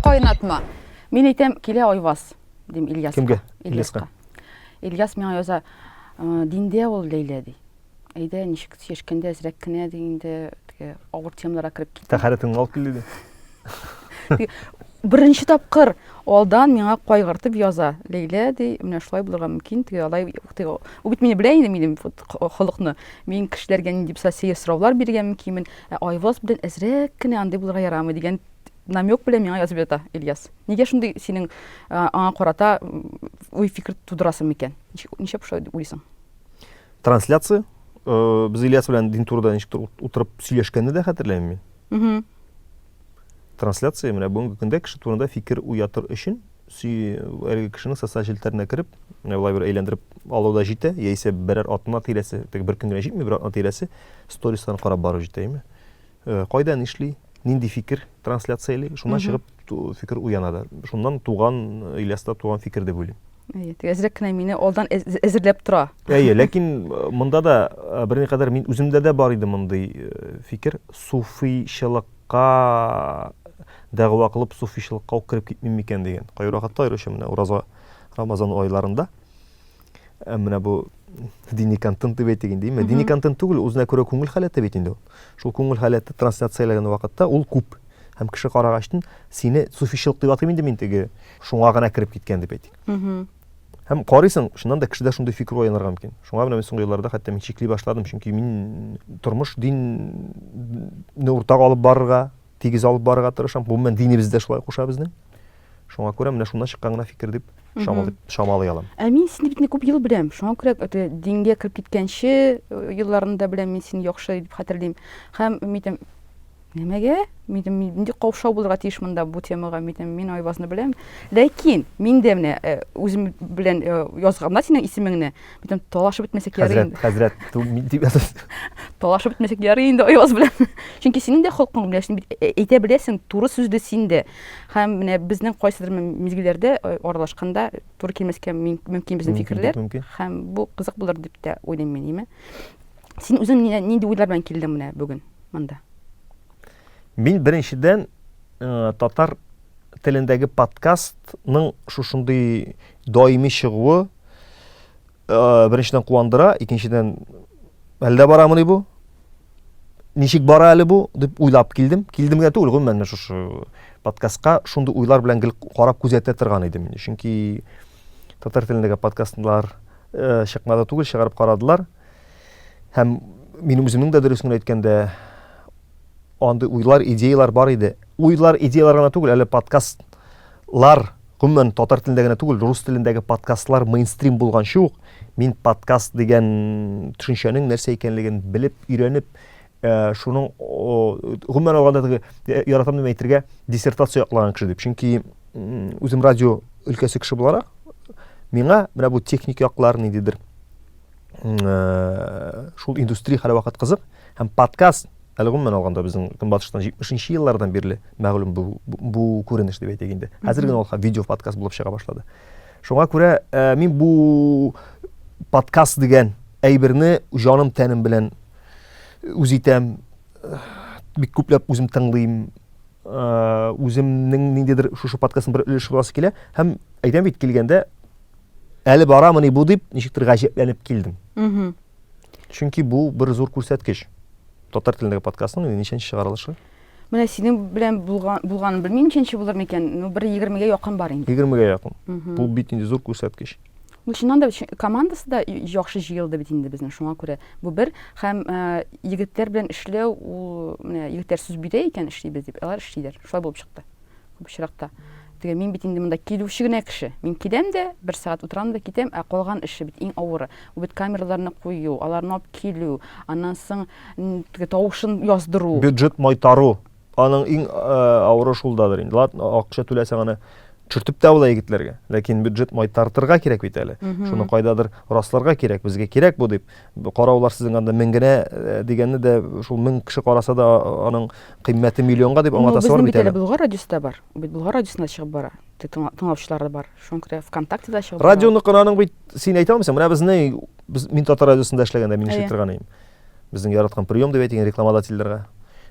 Кайнатма. Мин әйтәм, килә Айваз, дим Ильяска. Кемгә? Ильяска. Ильяс миңа яза, «Э, диндә ул Ләйлә ди. Әйдә, ничек чишкәндә әзрәк кенә ди инде, теге авыр темаларга кереп кит. Тәхәрәтеңне алып кил диде. Беренче тапкыр алдан миңа кайгыртып яза. Ләйлә ди, менә шулай булырга мөмкин, теге алай теге. Ул бит мине белә инде минем вот холыкны. Мин кешеләргә нинди булса сәер сораулар бирергә мөмкинмен. Ә Айваз белән әзрәк кенә андый булырга ярамый дигән намек белән миңа язып ята Ильяс. Нигә шундый синең аңа карата уй фикер тудырасың микән? Ничек шулай дип уйлыйсың? Трансляция э, без Ильяс белән дин турыда ничектер утырып сөйләшкәнне дә хәтерләмим мин. трансляция менә бүгенге көндә кеше турында фикер уятыр өчен әлеге кешенең социаль челтәренә кереп менә былай бер әйләндереп алу да җитә яисә берәр атна тирәсе теге бер көн генә җитми бер атна тирәсе стористан карап бару җитә әйме э, кайда нишли нинди фикер трансляцияли шуннан чыгып фикер уяна да. Шуннан туган, Ильяста туган фикер дип уйлыйм. Әйе, әзрәк кенә мине алдан әзерләп тора. Әйе, ләкин э, монда да э, берни кадәр мин үземдә дә бар иде мондый э, фикер, суфийчылыкка дәгъва кылып суфийчылыкка ук кереп китмим микән дигән. Кайракатта аеруча менә Ураза Рамазан айларында Ә менә бу дини контент дип әйтик инде. Дини контент түгел, үзенә күрә күңел халәте бит инде ул. Шул күңел халәте трансляцияләгән вакытта ул күп. Һәм кеше карагачтын, сине суфичылык дип атыйм инде мин теге, шуңа гына кереп киткән дип әйтик. Һәм карыйсың, шуннан да кешедә шундый фикер уянырга мөмкин. Шуңа менә мин соңгы елларда хәтта мин чикли башладым, чөнки мин тормыш динне уртага алып барырга, тигез алып барырга тырышам. Гомумән, динебез дә шулай куша безнең. Шуңа күрә менә шуннан чыккан гына фикер дип чамалый алам. Ә мин сине бит күп ел беләм. Шуңа күрә дингә кереп киткәнче елларны да беләм мин сине яхшы дип хәтерлим. Һәм митем Нәмәгә? Митем нинди каушау булырга тиеш монда бу темага? Митем мин Айвазны беләм. Ләкин мин дә менә үзем белән язганда синең исемеңне, митем талашып бетмәсә кирәк инде. Хәзрәт, хәзрәт, мин дип язас. Талашып бетмәсә кирәк инде Айваз белән. Чөнки синең дә холкың белән, син бит әйтә беләсең, туры сүзле син дә. Һәм менә безнең кайсыдыр мизгелләрдә э, аралашканда туры килмәскә мөмкин безнең фикерләр. Һәм бу кызык булыр дип тә уйлыйм мин, име? Син үзең нинди уйлар белән килдең менә бүген монда? Мин беренчедән э, татар телендәге подкастның шушындый даими чыгуы Э, беренчедән куандыра, икенчедән әлдә барамыни бу? Ничек бара әле бу дип уйлап килдем. Килдем генә түгел, гомумән шушы подкастка шундый уйлар белән гел карап күзәтә торган идем. Чөнки татар телендәге подкастлар э, чыкмады түгел, чыгарып карадылар. Һәм мин үземнең дә дөресен әйткәндә Андый уйлар, идеялар бар иде. Уйлар, идеялар гына түгел, әле подкаст лар гомумән татар телендә генә түгел, рус телендәге подкастлар мейнстрим булганчы ук мин подкаст дигән төшенчәнең нәрсә икәнлеген белеп, өйрәнеп, э, шуның гомумән алганда теге э, яратам дип әйтергә диссертация яклаган кеше дип. Чөнки үзем радио өлкәсе кеше буларак миңа менә бу техник яклар ниндидер Э, шул индустрия хәле вакыт кызык һәм подкаст әле гомумән алганда безнең көнбатыштан җитмешенче еллардан бирле мәгълүм бу, бу күренеш дип әйтик инде хәзер генә ул видео подкаст булып чыга башлады шуңа күрә ә, э, мин бу подкаст дигән әйберне җаным тәнем белән үз итәм э, бик күпләп үзем тыңлыйм үземнең ниндидер шушы подкастның бер өлеше буласы килә һәм әйтәм бит килгәндә әле барамыни бу дип ничектер гаҗәпләнеп килдем чөнки бу бер зур күрсәткеч татар телендәге подкастның ничәнче чыгарылышы менә синең белән булган булганын белмим ничәнче булыр микән ну бер егермегә якын бар инде егермегә якын бу бит инде зур күрсәткеч Ну, чыннан да командасы да яхшы җыелды бит инде безнең, шуңа күрә бу бер һәм э, егетләр белән эшләү ул менә егетләр сүз бирә икән эшлибез дип, алар эшлиләр. Шулай булып чыкты. Күп очракта. Теге мин бит инде монда килүче генә кеше. Мин киләм дә, бер сәгать утырам да китәм, ә калган эше бит иң авыры. Ул бит камераларны кую, аларны алып килү, аннан соң теге тавышын яздыру. Бюджет майтару. Аның иң э, авыры шулдадыр инде. Ладно, акча түләсәң аны чөртеп тә була егетләргә. Ләкин бюджет майтартырга кирәк бит әле. Шуны кайдадыр расларга кирәк, безгә кирәк бу дип. Караулар сезнең анда мең генә э, дигәнне дә шул мең кеше караса да аның кыйммәте миллионга дип аңлатасы бар бит әле. Болгар радиосында бар. Бит Болгар радиосында чыгып бара. Тыңлаучылары бар. Шуңа күрә ВКонтактеда чыгып бара. Радионыкын аның бит син әйтә алмыйсың. Менә безнең мин татар радиосында эшләгәндә мин эшли торган идем. Безнең яраткан прием дип әйтегез рекламодательләргә.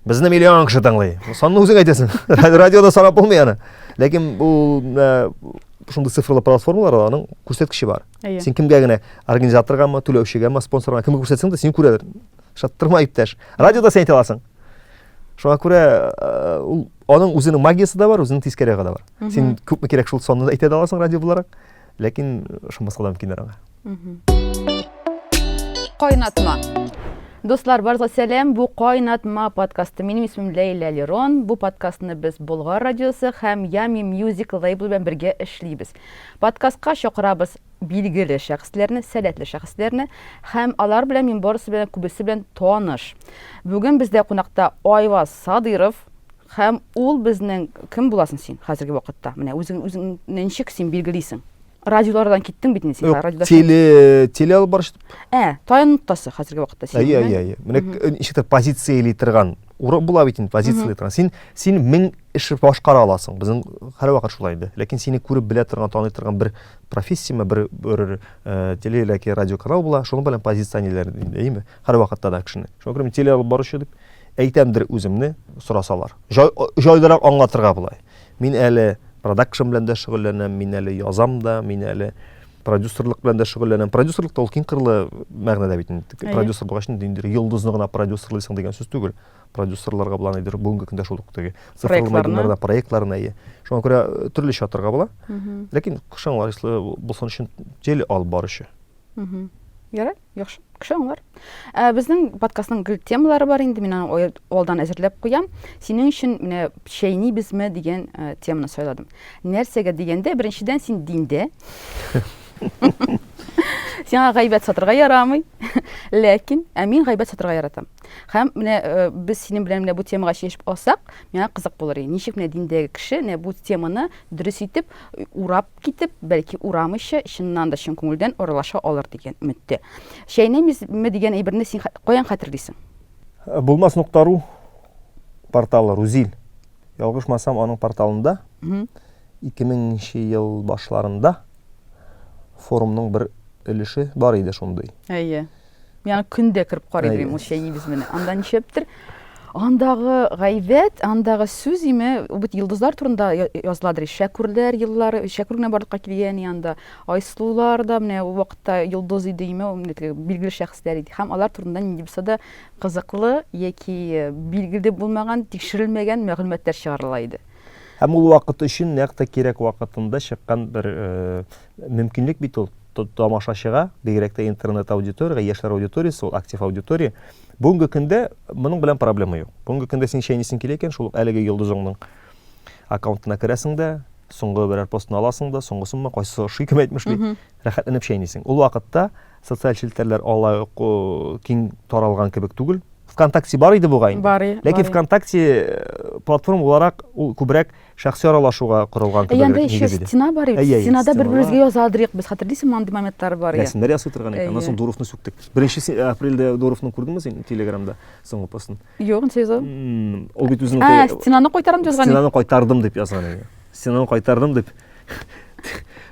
Безне миллион кеше тыңлый. Санны үзең әйтәсең. Радиода санап булмый аны. Ләкин бу шундый цифрлы платформалар аның күрсәткече бар. Әйе. Син кемгә генә организаторгамы, түләүчегәме, спонсорга кемгә күрсәтсәң дә син күрәдер. Шаттырма иптәш. Радиода сен әйтә аласың. Шуңа күрә ул аның үзенең магиясе дә бар, үзенең тискәре ягы да бар. Син күпме кирәк шул санны әйтә аласың радио буларак. Ләкин ышанмаска да мөмкиннәр аңа. Кайнатма. Дуслар, барыгызга сәлам. Бу Кайнатма подкасты. Минем исемем Ләйлә Лерон. Бу подкастны без Болгар радиосы һәм Ями Music лейбл белән бергә эшлибез. Подкастка чакырабыз билгеле шәхесләрне, сәләтле шәхесләрне һәм алар белән мин барысы белән күбесе белән таныш. Бүген бездә кунакта Айваз Садыров, Һәм ул безнең кем буласың син хәзерге вакытта? Менә үзең үзең ничек син билгелисең? Радиолардан киттең бит инде син. Радиода теле теле алып барыш. Ә, таян ноктасы хәзерге вакытта син. Әйе, әйе, әйе. Менә ничектер позиция или торган урын була бит инде позиция или торган. Син син мең эш башкара аласың. Безнең һәр вакыт шулай инде. Ләкин сине күреп белә торган, таный торган бер профессияме, бер бер э, теле или радиоканал була. Шуның белән позиционерләр, әйеме? Һәр вакытта да кешене. Шуңа күрә теле алып баручы дип Әйтәмдер үземне сорасалар. Җайлырак аңлатырга болай. Мин әле продакшн белән дә шөгыльләнәм, мин әле язам да, мин әле продюсерлык белән дә шөгыльләнәм. Продюсерлык та ул киң кырлы мәгънәдә бит инде. Продюсер булгач инде инде йолдызны гына продюсерлыйсың дигән сүз түгел. Продюсерларга булган әйдер бүгенге көндә шул ук теге цифрлы мәйданнарда проектларны әйе. Шуңа күрә э, төрлечә атарга була. Ләкин кышаң лаешлы булсын өчен тел алып баручы. Ярый. Яхшы, кеше аңлар. Ә безнең подкастның гел темалары бар инде, мин аны алдан әзерләп куям. Синең өчен менә чәйни безме дигән э, теманы сайладым. Нәрсәгә дигәндә, беренчедән син диндә. Сиңа гайбәт сатырга ярамый. Ләкин ә мин гайбәт сатырга яратам. Хәм менә э, без синең белән менә бу темага чишеп алсак, миңа кызык булыр иде. Ничек менә диндәге кеше менә бу теманы дөрес итеп урап Китеп, бәлки, урам эче, чыннан да, чын күңелдән аралаша алыр дигән өметтә. Чәйнәмизме дигән әйберне син каян хәтерлисең? Булмас нокта ру порталы, Рузил. Ялгышмасам, аның порталында 2000 ел башларында форумның бер өлеше бар иде шундый. Әйе. Миңа көндә кереп карый берем ул чәйнибез менә. Анда нишләптер? Андагы гайбәт, андагы сүз име, бит йолдызлар турында языладыр. Шәкүрләр еллары, шәкүр генә барлыкка килгән анда. Айсылулар да менә ул вакытта йолдыз иде име, билгеле шәхесләр иде. Һәм алар турында нинди булса да кызыклы яки билгеле булмаган, тикшерелмәгән мәгълүматлар чыгарыла иде. Һәм ул вакыт өчен нәкъ тә кирәк вакытында чыккан бер э, Мөмкинлек бит ул тамашачыга, бигрәк тә интернет аудиториягә, яшьләр аудиториясе ул, актив аудитория. Бүгенге көндә моның белән проблема юк. Бүгенге көндә син чәйнисең килә икән, шул әлеге йолдызыңның аккаунтына керәсең дә, соңгы берәр постын аласың да, соңгысынмы, кайсы ошый кем әйтмешли, рәхәтләнеп чәйнисең. Ул вакытта социаль челтәрләр алай ук киң таралган кебек түгел. ВКонтакте бар иде бугай. Ләкин ВКонтакте э, платформа буларак ул күбрәк Шәхси аралашуга корылган кебегрәк нигез иде. Әйе, анда ещё стена бар иде. Стенада бер-беребезгә яза алдырыйк без. Хәтерлисеңме, андый моментлар бар иде. Рәсемнәр ясый торган идек. Аннан соң Дуровны сүктек. Беренче апрельдә Дуровны күрдеңме син телеграмда соңгы постын? Юк, ничек яза ул? Ул бит үзенең Ә, стенаны кайтарам дип язган иде. Стенаны кайтардым дип язган иде. Стенаны кайтардым дип.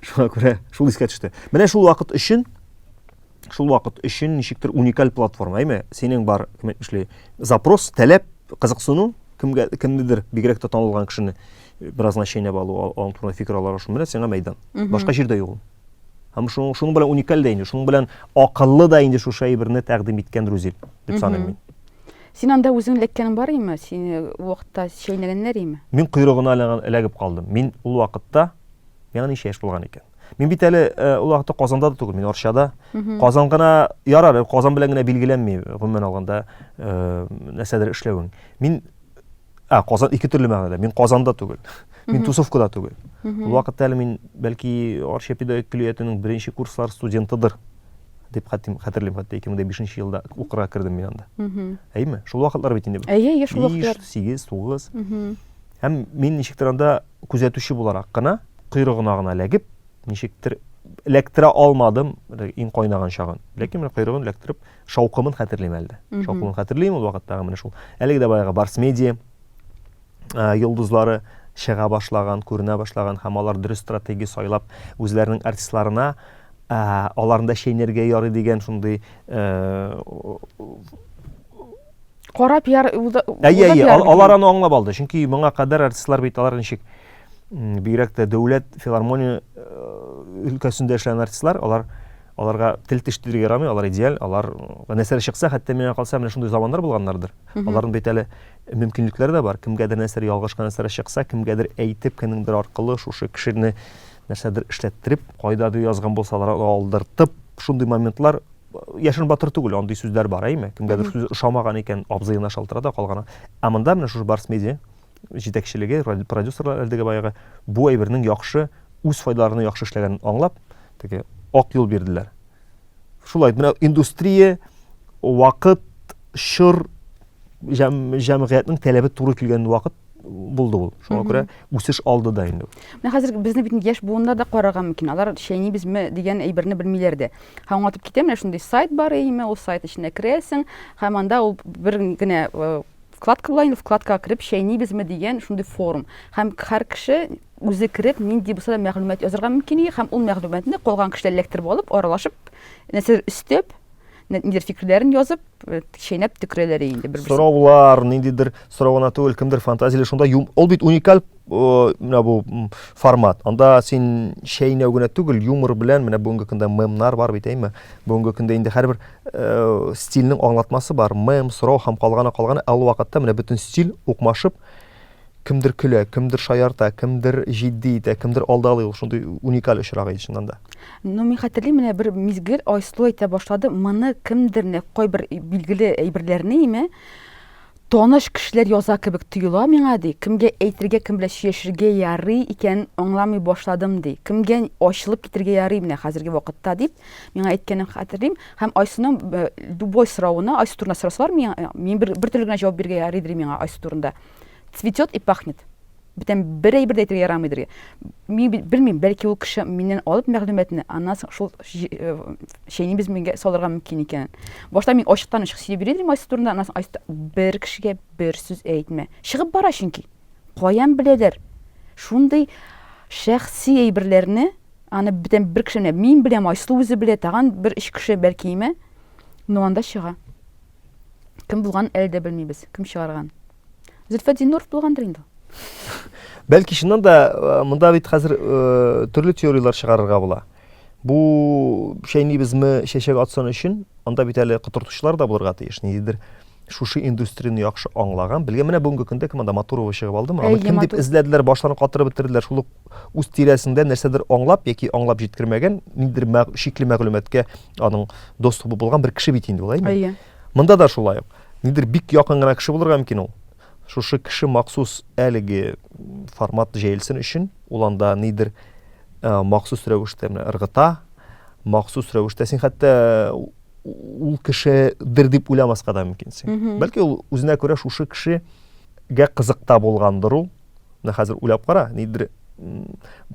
Шуңа күрә шул искә төште. Менә шул вакыт өчен шул вакыт өчен ничектер уникаль платформа, әйме? Синең бар, кем әйтмешли, запрос, таләп, кызыксыну, кемгә кемнедер бигрәк тә танылган кешене э, беразына чәйнәп алу, аның турында фикер алар шуның белән сиңа мәйдан. Башка җирдә юк. Һәм шуның шуның белән уникаль дә инде, шуның белән акыллы да инде шушы әйберне тәкъдим иткән Рузил дип саныйм мин. Син анда үзең эләккәнең бар име? Сине вакытта чәйнәгәннәр име? Мин койрыгына эләгеп калдым. Мин ул вакытта Миңа ничә яшь булган икән? Мин бит әле ул вакытта Казанда да түгел, мин Арчада. Казан гына ярар, Казан белән генә билгеләнми, гомумән алганда, нәрсәдер эшләвең. Мин а, Казан ике төрле мәгънәдә. Мин Казанда түгел. Мин Тусовкада түгел. Ул вакытта әле мин бәлки Арча педагогик көллиятенең беренче курслар студентыдыр дип хәтим хәтерлим хәтта 2005 елда укырга кердем мин анда. Әйме? Шул вакытлар бит инде. Әйе, шул вакытлар. 5, 8, 9. Һәм мин ничектер анда күзәтүче буларак кына, койрыгына гына эләгеп, ничектер эләктерә алмадым иң кайнаган чагын. Ләкин менә койрыгын эләктереп, шаукымын хәтерлим әле. Шаукымын хәтерлим ул вакыттагы менә шул. Әлеге дә баягы Барс Медиа йолдызлары чыга башлаган, күренә башлаган һәм алар дөрес стратегия сайлап, үзләренең артистларына аларында чәйнәргә ярый дигән шундый карап яр әйе әйе алар аны аңлап алды чөнки моңа кадәр артистлар бит алар ничек бигрәк тә дәүләт филармония өлкәсендә эшләгән артистлар алар аларга тел теш тидергә ярамый алар идеаль алар нәрсәләр чыкса хәтта миңа калса менә шундый заманнар булганнардыр аларның бит әле мөмкинлекләре дә бар кемгәдер нәрсәләр ялгыш нәрсәләр чыкса кемгәдер әйтеп кемнеңдер аркылы шушы кешене нәрсәдер эшләттереп кайдадыр язган булсалар алдыртып шундый моментлар Яшен батыр түгел, андый сүзләр бар, әйме? Кемгәдер сүз ошамаган икән, абзыена шалтырата калган. Ә монда менә шушы Барс медиа җитәкчелеге, продюсерлар әлдәге баягы бу әйбернең яхшы үз файдаларына яхшы эшләгәнен аңлап, теге ак юл бирделәр. Шулай, менә индустрия, вакыт, чор, җәм, җәмгыятьнең таләбе туры килгән вакыт булды ул. Шуңа күрә үсеш алды да инде. Менә хәзер безне бит яшь буыннар да карарга мөмкин. Алар чәйнибезме дигән әйберне белмиләр дә. Һәм аңлатып китәм, менә шундый сайт бар име, ул сайт эченә керәсең, һәм анда ул бер генә э, вкладка була инде, вкладкага кереп чәйнибезме дигән шундый форум. Һәм һәр кеше үзе кереп, нинди булса да мәгълүмат язарга мөмкин, һәм ул мәгълүматны калган кешеләр эләктереп алып, аралашып, нәрсәдер өстәп, нидер фикерләрен язып, э, чәйнәп төкерәләр инде бер-берсен. Сораулар, ниндидер сорау гына түгел, кемдер фантазияле шунда юм. Ул бит уникаль э, менә бу формат. Анда син чәйнәү генә түгел, юмор белән менә бүгенге көндә мемнар бар бит, әйме? Бүгенге көндә инде һәрбер э, стильнең аңлатмасы бар. Мем, сорау һәм калганы калганы, ә ул вакытта менә бөтен стиль укмашып, Кемдер көлә, кемдер шаярта, кемдер җитди итә, кемдер алдалый, ул шундый уникаль очрак иде чыннан да. Ну, мин хәтерлим, менә бер мизгел Айсылу әйтә башлады, моны кемдер, менә кайбер билгеле әйберләрне име, таныш кешеләр яза кебек тоела миңа, ди, кемгә әйтергә, кем белән сөйләшергә ярый икәнен аңламый башладым, ди, кемгә ачылып китергә ярый менә хәзерге вакытта, дип, миңа әйткәнен хәтерлим, һәм Айсылуның любой соравына, Айсылу турында сорасалар, мин бер, бер төрле генә җавап бирергә ярый, ди миңа Айсылу турында. цветет и пахнет бүтән бер әйбер дә әйтергә ярамый дөргә. Мин белмим, бәлки ул кеше миннән алып мәгълүматны, аннан соң шул э, чәйни без миңа салырга мөмкин икән. Башта мин ачыктан ачык сөйләп йөридем Айсу турында, аннан соң Айсу бер кешегә бер сүз әйтмә. Чыгып бара чөнки. Каян беләләр? Шундый шәхси әйберләрне аны бүтән бер кеше мин беләм, Айсу үзе белә, тагын бер өч кеше бәлки име, но анда чыга. Кем булган әле дә белмибез. Кем чыгарган? Зөлфәт Зиннуров булгандыр инде. Бәлки чыннан да э, монда бит хәзер э, төрле теорияләр чыгарырга була. Бу шәйнибезме чәчәк атсын өчен, анда бит әле котыртучылар да булырга тиеш. Ниндидер шушы индустрияне яхшы аңлаган, белгән менә бүгенге көндә кем анда Матурова чыгып алдымы? Аны кем дип эзләделәр, башларын катырып бетерделәр. Шул ук үз тирәсендә нәрсәдер аңлап яки аңлап җиткермәгән, ниндидер шикле мәгълүматка аның доступы булган бер кеше бит инде ул әйме әйе монда да шулай ук нидер бик якын гына кеше булырга мөмкин ул шушы кеше махсус әлеге формат җәелсен өчен ул анда нидер ә, махсус рәвештә ыргыта махсус рәвештә син хәтта ул кешедер дип уйламаска да мөмкинсең бәлки ул үзенә күрә шушы кешегә кызыкта булгандыр ул Менә хәзер уйлап кара, нидер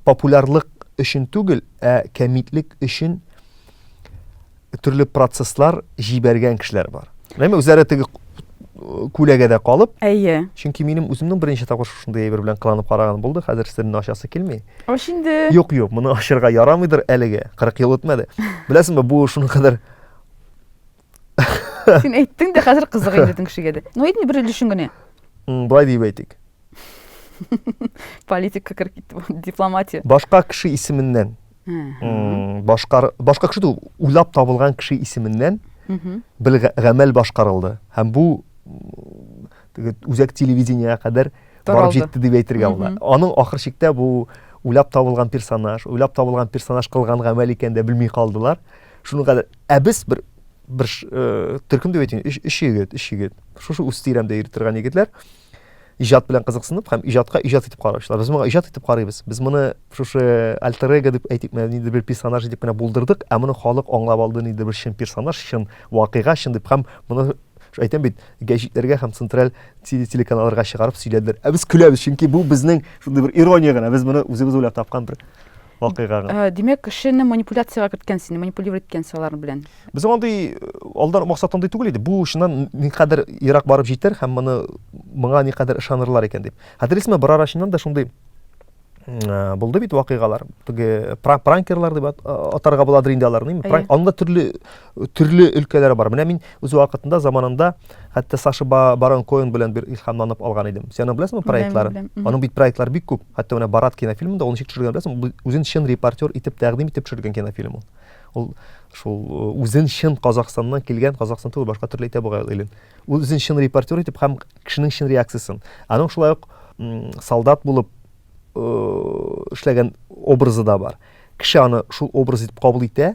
популярлык өчен түгел, ә кәмитлек өчен төрле процесслар җибәргән кешеләр бар. Әмма үзләре теге күләгәдә калып. Әйе. Чөнки минем үземнең беренче тапкыр шушындый әйбер белән кыланып караган булды. Хәзер сирне ачасы килми. Аш инде. Юк, юк, моны ашырга ярамыйдыр әлеге. 40 ел үтмәде. Беләсеңме, бу шуның кадәр син әйттең дә хәзер кызык әйбәтең кешегә дә ну әйтми бер өлешен генә былай диеп әйтик политика кереп китте дипломатия башка кеше исеменнән башкар башка кеше түгел уйлап табылган кеше исеменнән бер гамәл башкарылды һәм бу үзәк телевидениегә кадәр барып җитте дип әйтергә була аның ахыр чиктә бу уйлап табылган персонаж уйлап табылган персонаж кылган гамәл икәнен дә белми калдылар Шуны гадәт, ә без бер бер э, төркем дип әйтим, өч, өч егет, өч егет. Шушы үз тирәмдә йөри торган егетләр иҗат белән кызыксынып һәм иҗатка иҗат итеп караучылар. Без моны иҗат итеп карыйбыз. Без моны шушы альтер эго дип әйтик, нидер бер персонаж дип кенә булдырдык, ә моны халык аңлап алды, нидер бер чын персонаж, чын вакыйга, чын дип һәм моны әйтәм бит, гәҗитләргә һәм централь телеканалларга чыгарып сөйләделәр. Ә без көләбез, чөнки бу безнең шундый бер ирония гына, без моны үзебез уйлап тапкан бер вакыйгага. Ә, Димәк, кешене манипуляциягә керткән сине, манипулировать иткән алар белән. Без андый э, алдан максат андый түгел иде. Бу чыннан никадәр ерак барып җитәр һәм моны моңа никадәр ышанырлар икән дип. Хәтерлисезме, бер ара чыннан да шундый э, булды бит вакыйгалар. Теге пранкерлар дип атарга буладыр инде аларны. Пранк, анда төрле төрле өлкәләр бар. Менә мин үз вакытында заманында хәтта Саша Барон Коэн белән бер илһамланып алган идем. Сен аны беләсеңме проектлары? Аның бит проектлары бик күп. Хәтта менә Барат кинофильмында ул ничек төшергән беләсеңме? Үзен чын репортер итеп тәкъдим итеп төшергән кинофильм ул. Ул шул э, үзен чын Казахстаннан килгән, Казахстан түгел, башка төрле әйтә бугай илен. Ул үзен чын репортер итеп һәм кешенең чын реакциясен. Аның шулай ук солдат булып э, эшләгән образы да бар. Кеше аны шул образ итеп кабул итә,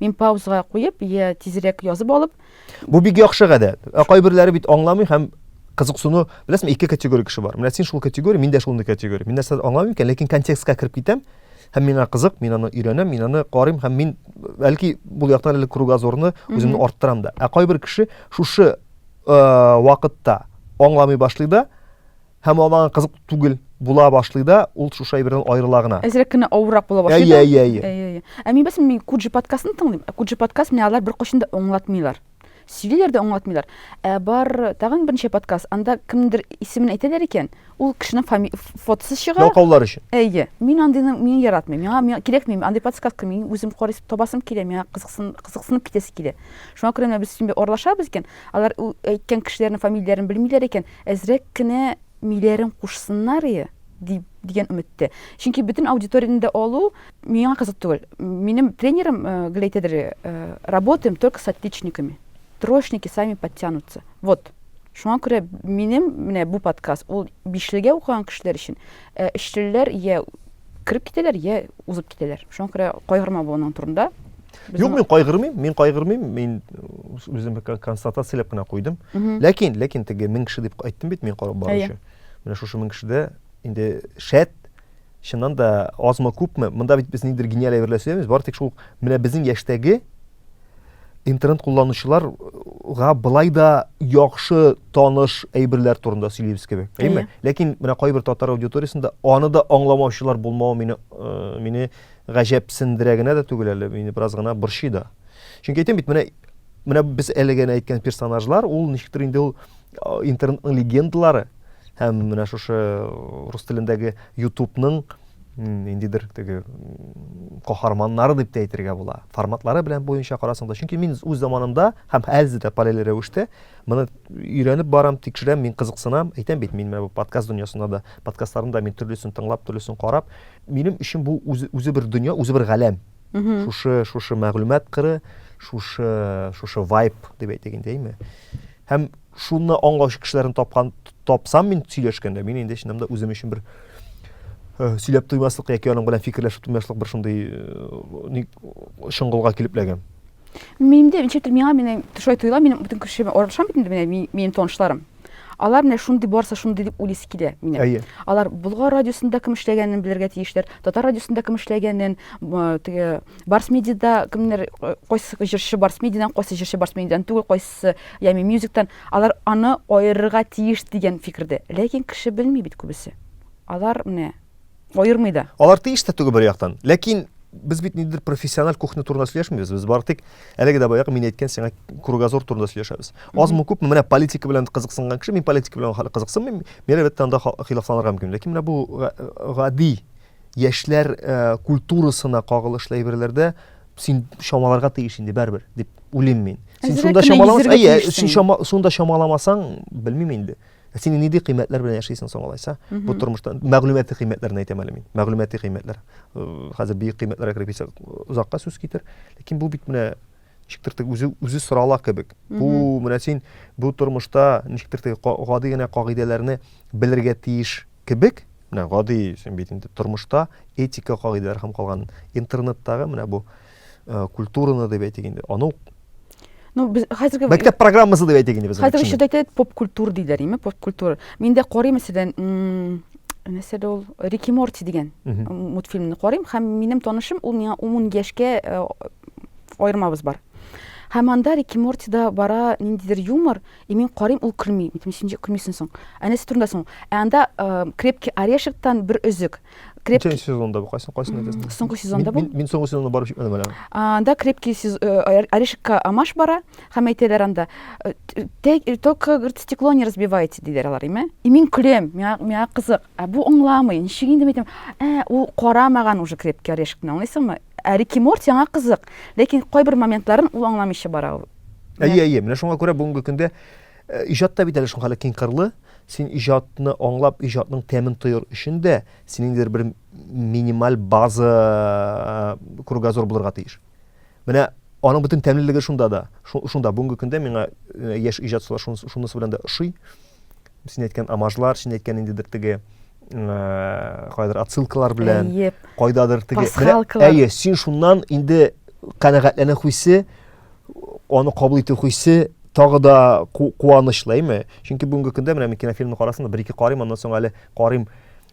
Мин паузага куеп, я тизрәк язып алып. Бу бик яхшы гадәт. Ә кайберләре бит аңламый һәм кызыксыну, беләсеңме, ике категория кеше бар. Менә син шул категория, мин дә шундый категория. Мин нәрсә аңламыйм икән, ләкин контекстка кереп китәм. Һәм миңа кызык, мин аны өйрәнәм, мин аны карыйм һәм мин бәлки бу яктан әле кругозорны үземне арттырам да. Ә кайбер кеше шушы э, вакытта аңламый башлый да, һәм ул аңа кызык түгел була башлый да, ул шушы әйбердән аерыла гына. Әзрәк кенә авыррак була башлый. Әйе, әйе, әйе. Әйе, әйе. Ә мин бәсем мин Куджи подкастын тыңлыйм. Ә Куджи подкаст менә алар беркайчан да аңлатмыйлар. Сөйлиләр дә аңлатмыйлар. Ә бар тагын берничә подкаст, анда кемдер исемен әйтәләр икән, ул кешенең фами... фотосы чыга. Ялкаулар өчен. Әйе. Мин андыйны мин яратмыйм. Миңа, миңа кирәкми андый подкаст кем? Мин үзем карыйс табасым килә, миңа кызыксын кызыксынып китәсе килә. Шуңа күрә менә без синбе орлашабыз икән, алар әйткән кешеләрнең фамилияләрен белмиләр икән, Әзрәк кенә миләрен кушсыннар и, дип, дигән өметтә. Чөнки бөтен аудиторияне дә алу миңа кызык түгел. Минем тренерым гел әйтәдер, Работаем только с отличниками. Троечники сами подтянутся. Вот. Шуңа күрә минем менә бу подкаст, ул бишлегә укыган кешеләр өчен. Ә өчлеләр йә кереп китәләр, йә узып китәләр. Шуңа күрә кайгырма бу аның турында. Безнең... Юк, мин кайгырмыйм, мин кайгырмыйм, мин үзем констатацияләп кенә куйдым. Ләкин, ләкин теге мең кеше дип айттым бит мин карап баручы. Менә шушы мең кешедә инде шәт, чыннан да азмы күпме, монда бит без ниндер гениаль әйберләр сөйләмибез, бары тик шул менә безнең яшьтәге интернет кулланучыларга былай да яхшы таныш әйберләр турында сөйлибез кебек, әйме? Ләкин менә кайбер татар аудиториясендә аны да аңламаучылар булмавы мине э, мине Гаҗәпсендерә генә дә түгел әле, мине бераз гына борчый да. Чөнки әйтәм бит, менә менә без әле генә әйткән персонажлар, ул ничектер инде ул интернетның легендалары һәм менә шушы рус телендәге ютубның ниндидер теге каһарманнары дип тә әйтергә була. Форматлары белән буенча карасаң да, чөнки мин үз заманымда һәм хәзер дә параллель рәвештә моны өйрәнеп барам, тикшерәм, мин кызыксынам. Әйтәм бит, мин менә бу подкаст дөньясында да, подкастларында мин төрлесен тыңлап, төрлесен карап, Минем өчен бу үзе, үзе бер дөнья, үзе бер галәм. Шушы, шушы мәгълүмат кыры, шушы, шушы вайп дип әйтик инде, әйме? Һәм шуны аңлаучы кешеләрне тапкан тапсам мин сөйләшкәндә, мин инде чыннан да үзем өчен бер э, сөйләп туймаслык яки аның белән фикерләшеп туймаслык бер шундый э, чыңгылга килеп ләгән. Минем дә ничектер миңа менә шулай тоела, минем бөтен кеше аралашам бит инде менә минем танышларым. Алар менә шундый барса шундый дип уйлыйсы килә минем. Әйе. Алар Болгар радиосында кем эшләгәнен белергә тиешләр, Татар радиосында кем эшләгәнен, теге Барс медиада кемнәр кайсы җырчы Барс медиадан, кайсы җырчы Барс медиадан түгел, кайсы Ями мюзиктан. Алар аны аерырга тиеш дигән фикердә. Ләкин кеше белми бит күбесе. Алар менә Аермый да. Алар тиеш тә түгел бер яктан. Ләкин без бит ниндидер профессиональ кухня турында сөйләшмибез. Без бары тик әлеге дә баягы мин әйткән сиңа кругозор турында сөйләшәбез. Азмы күпме менә политика белән кызыксынган кеше, мин политика белән хәле кызыксынмыйм. Мин әлбәттә анда хилафланырга мөмкин. Ләкин менә бу гади яшьләр э, культурасына кагылышлы әйберләрдә син чамаларга тиеш инде барыбер дип уйлыйм мин. Син шунда чамаламасаң, әйе, син шунда чамаламасаң, белмим инде. Ә син нинди кыйммәтләр белән яшисең соң алайса? Бу тормышта мәгълүмати кыйммәтләрне әйтәм әле мин. Мәгълүмати кыйммәтләр. Э, хәзер бөек кыйммәтләргә кереп китсәк, озакка сүз китер. Ләкин бу бит менә ничектер теге үзе үзе сорала кебек. Бу менә син бу тормышта ничектер теге гади генә кагыйдәләрне белергә тиеш кебек. Менә гади син бит инде тормышта этика кагыйдәләре һәм калган интернеттагы менә бу Э, культураны деп әйтик инде аны ну без хәзерге мәктәп программасы деп әйтик инде без хәзерге чорда әйтәләр поп культур диләр име поп культур мин дә карыйм мәсәлән нәрсә дә ул рики морти дигән мультфильмны карыйм һәм минем танышым ул миңа ун яшькә э, аермабыз бар һәм анда рики мортида бара ниндидер юмор и мин карыйм ул көлми мин ничек көлмисең соң ә нәрсә турында соң ә анда э, крепкий орешектан бер өзек Креп... Ничәнче сезонда бу? Кайсын кайсын әйтәсең? Соңгы сезонда бу. Мин соңгы сезонны барып җитмәдем әле. Анда крепкий э, орешка амаш бара, һәм әйтәләр анда э, э, только говорит стекло не разбивайте диләр алар, име? И мин көләм, миңа миңа кызык. Ә бу аңламый. Ничек инде әйтәм? Ә ул карамаган уже крепкий орешкны, аңлыйсыңмы? Ә Рики Морти аңа кызык, ләкин кайбер моментларын ул аңламыйча бара ул. Әйе, әйе, менә шуңа күрә бүгенге көндә Э, иҗат та бит әле шул хәле киңкырлы. Син иҗатны аңлап, иҗатның тәмен тоер өчен дә синеңдер бер минималь база э, кругозор булырга тиеш. Менә аның бөтен тәмлелеге шунда да. Шунда бүгенге көндә миңа э, яшь иҗатчылар шунысы белән дә ошый. Син әйткән амажлар, син әйткән ниндидер теге кайдыр отсылкалар белән, кайдадыр теге. Әйе, син шуннан инде канәгатьләнә хуйсы аны кабул итү хисе тагы да куанычлы, әйме? Чөнки бүгенге көндә менә мин кинофильмны карасам да, бер-ике карыйм, аннан соң әле карыйм,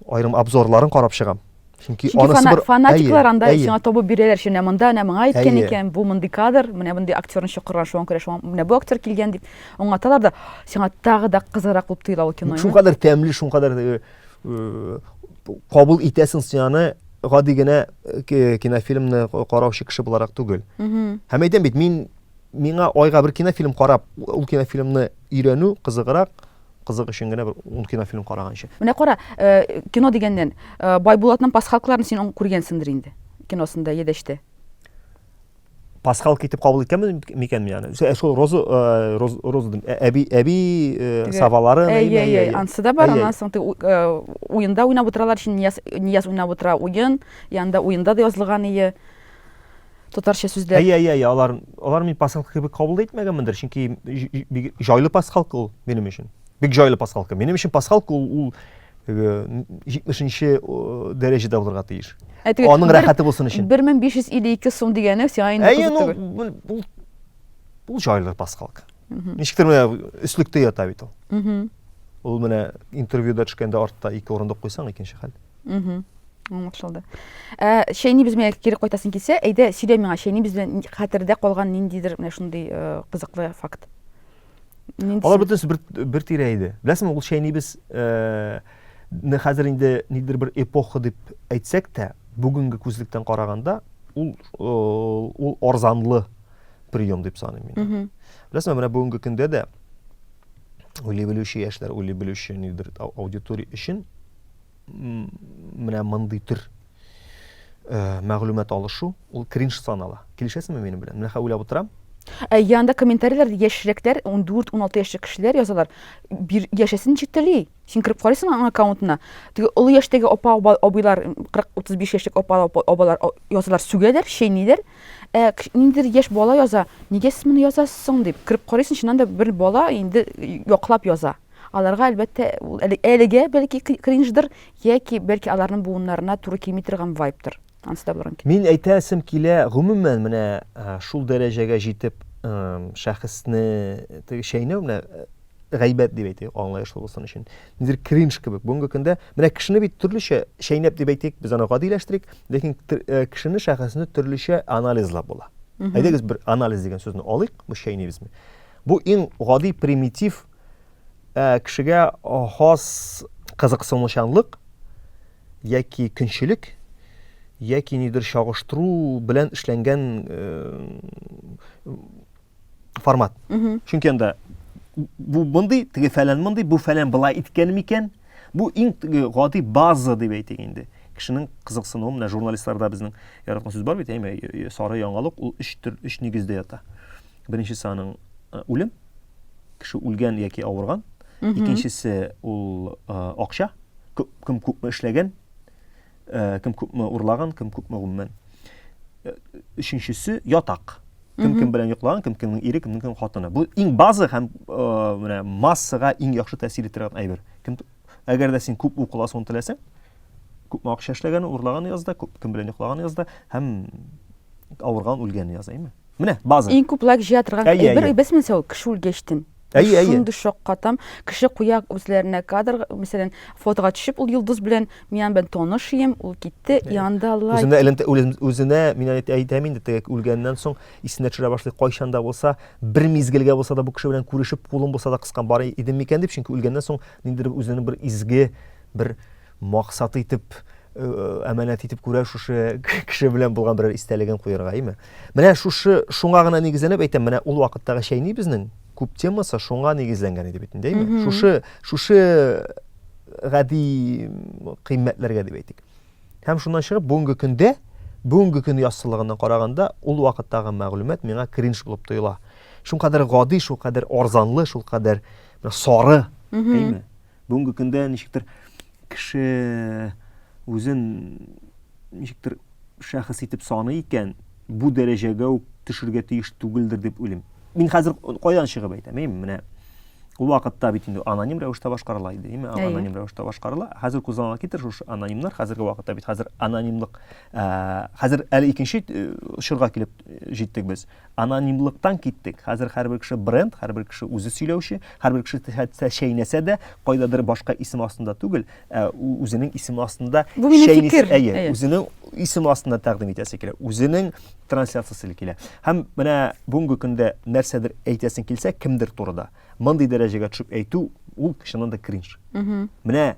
аерым обзорларын карап чыгам. Чөнки, Чөнки фана, бер... фанатиклар анда әйе. сиңа табып бирәләр өчен, ә монда әнә моңа әйткән әйе. икән, бу мондый кадр, менә мондый актерны чакырган, шуңа күрә шуңа менә бу актер килгән дип аңлаталар да, сиңа тагы да кызыграк булып тоела ул кино. Шуңа кадәр тәмле, шуңа кадәр э, э, кабул итәсең сиңа гади генә кинофильмны караучы кеше буларак түгел. Һәм әйтәм бит, мин миңа айга бер кинофильм карап, ул кинофильмны өйрәнү кызыграк, кызык өчен генә бер ун кинофильм караганчы. Менә кара, э, кино дигәннән, э, Байбулатның пасхалкаларын син күргәнсеңдер инде, киносында, Едәштә. пасхалка итеп кабул иткәнмен микән мин аны ә шул роза роза дим әби әби сабалары әйе әйе анысы да бар аннан соң уенда уйнап утыралар шин нияз нияз уйнап утыра уен янында уенда да язылган ие татарча сүзләр әйе әйе әйе алар алар мин пасхалка кебек кабул итмәгәнмендер чөнки бик җайлы пасхалка ул минем өчен бик җайлы пасхалка минем өчен пасхалка ул ул 70-нче дәрәҗәдә булырга тиеш. Аның рәхәте булсын өчен. 1552 сум дигәне сиңа инде кызык түгел. Бу бу җайлы паскалка. Ничектер менә өслектә ята бит ул. Ул менә интервьюда төшкәндә артта ике урындык куйсаң икенче хәл. Аңлашылды. Ә Шәйни без белән кире кайтасын килсә, әйдә сөйлә миңа, Шәйни без белән хәтердә калган ниндидер менә шундый кызыклы факт. Алар бөтенесе бер, бер тирә иде. Беләсеңме, ул шәйнибез э, не хәзер инде нидер бер эпоха дип әйтсәк тә, бүгенге күзлектән караганда ул э, ул арзанлы прием дип саныйм мин. Беләсеңме, менә бүгенге көндә дә уйлый белүче яшьләр, уйлый белүче нидер аудитория өчен менә мондый төр э, мәгълүмат алышу ул кринж санала. Килешәсеңме минем белән? Менә хәзер уйлап утырам. Ә янда комментарийлар яшьрәкләр 14-16 яшьлек кешеләр язалар. Бир яшәсен чители. Син кереп карыйсың аның аккаунтына. Теге олы яшьтәге апа абыйлар 40-35 яшьлек апа абалар язалар, сүгәләр, чәйниләр. Ә ниндидер яшь бала яза, нигә сез моны язасыз соң дип. Кереп карыйсың, чыннан да бер бала инде яклап яза. Аларга, әлбәттә, ул әлегә бәлки кринждыр, яки бәлки аларның буыннарына туры килми торган вайптыр. Ансы да булырга мөмкин. Мин әйтәсем килә, гомумән, менә шул дәрәҗәгә җитеп, шәхесне теге чәйнәү, менә гайбәт дип әйтик, аңлаешлы булсын өчен. Нидер кринж кебек. Бүгенге көндә менә кешене бит төрлечә чәйнәп дип әйтик, без аны гадиләштерик, ләкин кешене, шәхесне төрлечә анализлап була. Әйдәгез бер анализ дигән сүзне алыйк, бу чәйнибезме? Бу иң гади примитив Ә, кешегә хас кызыксынучанлык яки көнчелек яки нидер чагыштыру белән эшләнгән формат. Чөнки анда бу мондый, теге фәлән мондый, бу фәлән былай иткән микән? Бу иң теге гади база дип әйтик инде. Кешенең кызыксынуы менә журналистларда безнең яраткан сүз бар бит, әйме, сары яңалык ул өч төр, өч нигездә ята. Беренчесе аның э, үлем, кеше үлгән яки авырган. Икенчесе ул э, акча, кем күпме эшләгән, э, кем күпме урлаган, кем күпме гомумән. Өченчесе ятак. Кем кем белән йоклаган, кем кемнең ире, кемнең кем хатыны. Бу иң базы һәм менә массага иң яхшы тәэсир итәргән әйбер. Кем әгәр дә син күп укыласың, теләсәң, күпме акча эшләгәне, урлаганы язда, күп кем белән йоклаганы язда һәм авырган үлгәне яза, әйме? Менә база. Иң күп лайк җыя торган әйе, әйбер әйе. без мисал кеше үлгәчтен. Әйе, әйе. Шундый шаккатам. Кеше куя үзләренә кадр, мәсәлән, фотога төшеп ул йолдыз белән мин белән таныш идем, ул китте, янда лайк. Үзенә элемтә үзенә мин әйтәм инде теге үлгәннән соң исенә төшерә башлый, кайчан да булса, бер мизгелгә булса да бу кеше белән күрешеп, кулын булса да кыскан бар идем микән дип, чөнки үлгәннән соң ниндидер үзенең бер изге бер Максат итеп, әманәт итеп күрә шушы кеше белән булган берәр истәлеген куярга, әйме? Менә шушы шуңа гына нигезләнеп әйтәм, менә ул вакыттагы чәйни безнең күп темасы шуңа нигезләнгән иде бит инде, әйме? Шушы шушы гади кыйммәтләргә дип әйтик. Һәм шуннан чыгып бүгенге көндә бүгенге көн яссылыгына караганда ул вакыттагы мәгълүмат миңа кринж булып тоела. Шул кадәр гади, шул кадәр арзанлы, шул кадәр сары, әйме? Бүгенге көндә ничектер кеше үзен ничектер шәхес итеп саный икән, бу дәрәҗәгә үк төшергә тиеш түгелдер дип уйлыйм. Мин хәзер кайдан чыгып әйтәм, әйме, менә ул вакытта бит инде аноним рәвештә башкарыла иде, әйме, аноним рәвештә башкарыла. Хәзер күз алдына китер шушы анонимнар, хәзерге вакытта бит хәзер анонимлык, хәзер әле икенче очырга килеп җиттек без. Анонимлыктан киттек. Хәзер һәрбер кеше бренд, һәрбер кеше үзе сөйләүче, һәрбер кеше хәтта чәйнәсә дә, кайдадыр башка исем астында түгел, ә үзенең исеме астында Бу минем чәйнис- фикер. Әйе, Әйе. үзенең исеме астында тәкъдим итәсе килә, үзенең трансляциясе килә. Һәм менә бүгенге көндә нәрсәдер әйтәсең килсә, кемдер турыда, мондый дәрәҗәгә төшеп әйтү, ул чыннан да кринж. Менә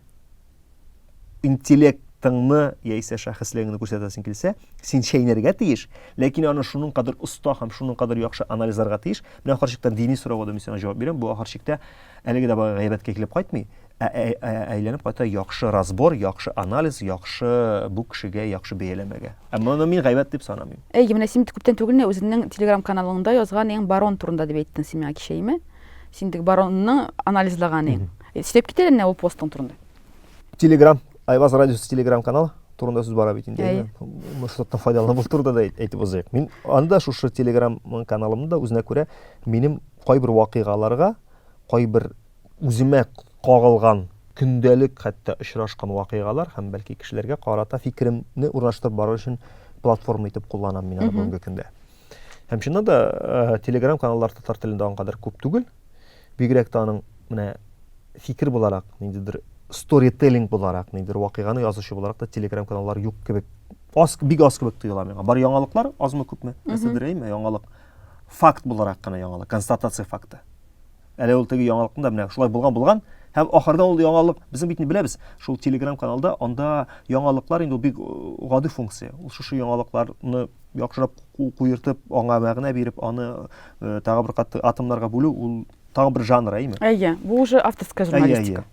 интеллектыңны яисә шәхеслегеңне күрсәтәсең килсә, син чәйнәргә тиеш, ләкин аны шуның кадәр оста һәм шуның кадәр яхшы анализларга тиеш. Менә ахыр чиктә дини сорауга да мин сиңа җавап бирәм. Бу ахыр чиктә әлеге дә бай гайбәткә килеп кайтмый, ә, ә, ә, ә әйләнеп кайта яхшы разбор, яхшы анализ, яхшы бу кешегә яхшы бәяләмәгә. Ә моны мин гайбәт дип санамыйм. Әй, менә син бит күптән түгел генә үзеңнең Telegram каналыңда язган иң барон турында дип әйттең син миңа кичә, име? Син теге баронны анализлаган иң. Сөйләп кит әле менә ул постың турында. Телеграм, Айваз радиосы телеграм каналы турында сүз бара бит инде. Мышыттан файдаланып ул турында да әйтеп узыйк. Мин анда шушы телеграм каналымда үзенә күрә минем кайбер вакыйгаларга, кайбер үземә кагылган көндәлек хәтта очрашкан вакыйгалар һәм бәлки кешеләргә карата фикеремне урнаштырып бару өчен платформа итеп кулланам мин аны бүгенге көндә. Һәм чыннан да э, телеграм каналлар татар телендә аңкадыр күп түгел. Бигрәк тә аның менә фикер буларак, ниндидер сторителлинг буларак, ниндидер вакыйганы язучы буларак та телеграм каналлар юк кебек. Аз, бик аз кебек тоела миңа. Бар яңалыклар азмы күпме? Нәрсәдер әйме яңалык. Факт буларак кына яңалык, констатация факты. Әле ул теге яңалыкны да менә шулай булган булган һәм ахырда ул яңалык безнең бит беләбез, шул телеграм каналда анда яңалыклар инде бик э, гади функция. Ул шушы яңалыкларны яхшырак куертып, аңа мәгънә биреп, аны э, тагы бер кат атомнарга бүлү ул тагы бер жанр әйме әйе бу уже авторская журналистика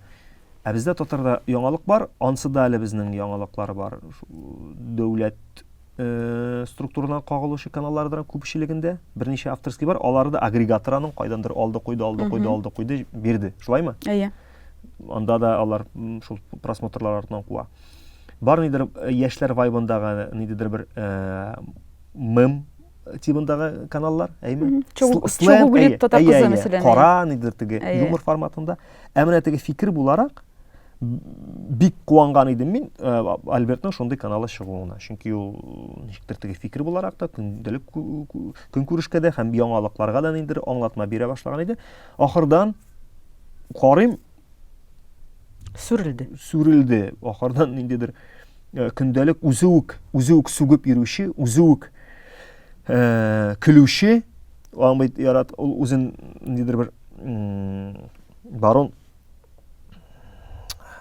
ә бездә татарда яңалык бар ансы да әле безнең яңалыклар бар дәүләт э, структурадан кагылучы каналлардан күпчелегендә берничә авторский бар алары да агрегатор аның кайдандыр алды куйды алды куйды алды куйды бирде шулаймы әйе анда да алар шул просмотрлар артынан куа бар нидер э, яшьләр вайбындагы ниндидер бер э, мем тибындагы каналлар, әйме? Чугу бүлет татар кызы мәсәлән. Кара, нидер теге юмор форматында. Ә менә теге фикер буларак бик куанган идем мин э, Альбертның шундый каналы чыгуына. Чөнки ул ничектер теге фикер буларак та көндәлек көнкүрешкә дә һәм яңалыкларга да ниндер аңлатма бирә башлаган иде. Ахырдан карыйм сүрелде. Сүрелде. Ахырдан ниндидер Э, көндәлек үзе үк үзе үк сүгеп йөрүче үзе үк э, көлүче аңбый ярат ул үзен ниндидер бер барон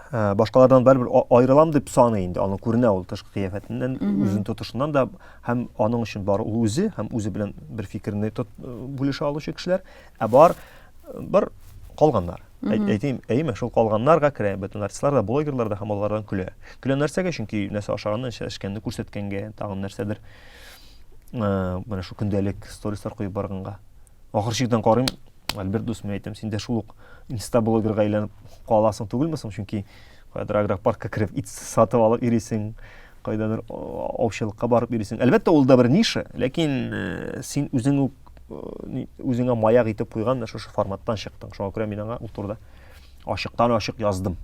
э, башкалардан бәрібір айырылам дип саный инде аны күренә ул тышкы кыяфәтеннән үзен тотышыннан да һәм аның өчен бар ул үзе һәм үзе белән бер фикерне бүлешә алучы кешеләр ә бар Бар калганнар. Әйтим, әйме, шул калганнарга керә, бөтен артистлар да, блогерлар да һәм алардан көлә. Көлә нәрсәгә? Чөнки нәрсә ашаганны, нәрсә эчкәнне күрсәткәнгә, тагын нәрсәдер. Ә, менә шул көндәлек сторислар куеп барганга. Ахыр чиктән карыйм, Альберт дус, мин әйтәм, син дә шул ук инста блогерга әйләнеп каласың түгелме соң? Чөнки кайдыр агропаркка кереп ит сатып алып йөрисең, кайдадыр аучылыкка барып йөрисең. Әлбәттә, ул да бер ниша, ләкин син үзең үк үзеңә маяк итеп куйган менә шушы форматтан чыктың шуңа күрә мин аңа ул турыда ачыктан ачык яздым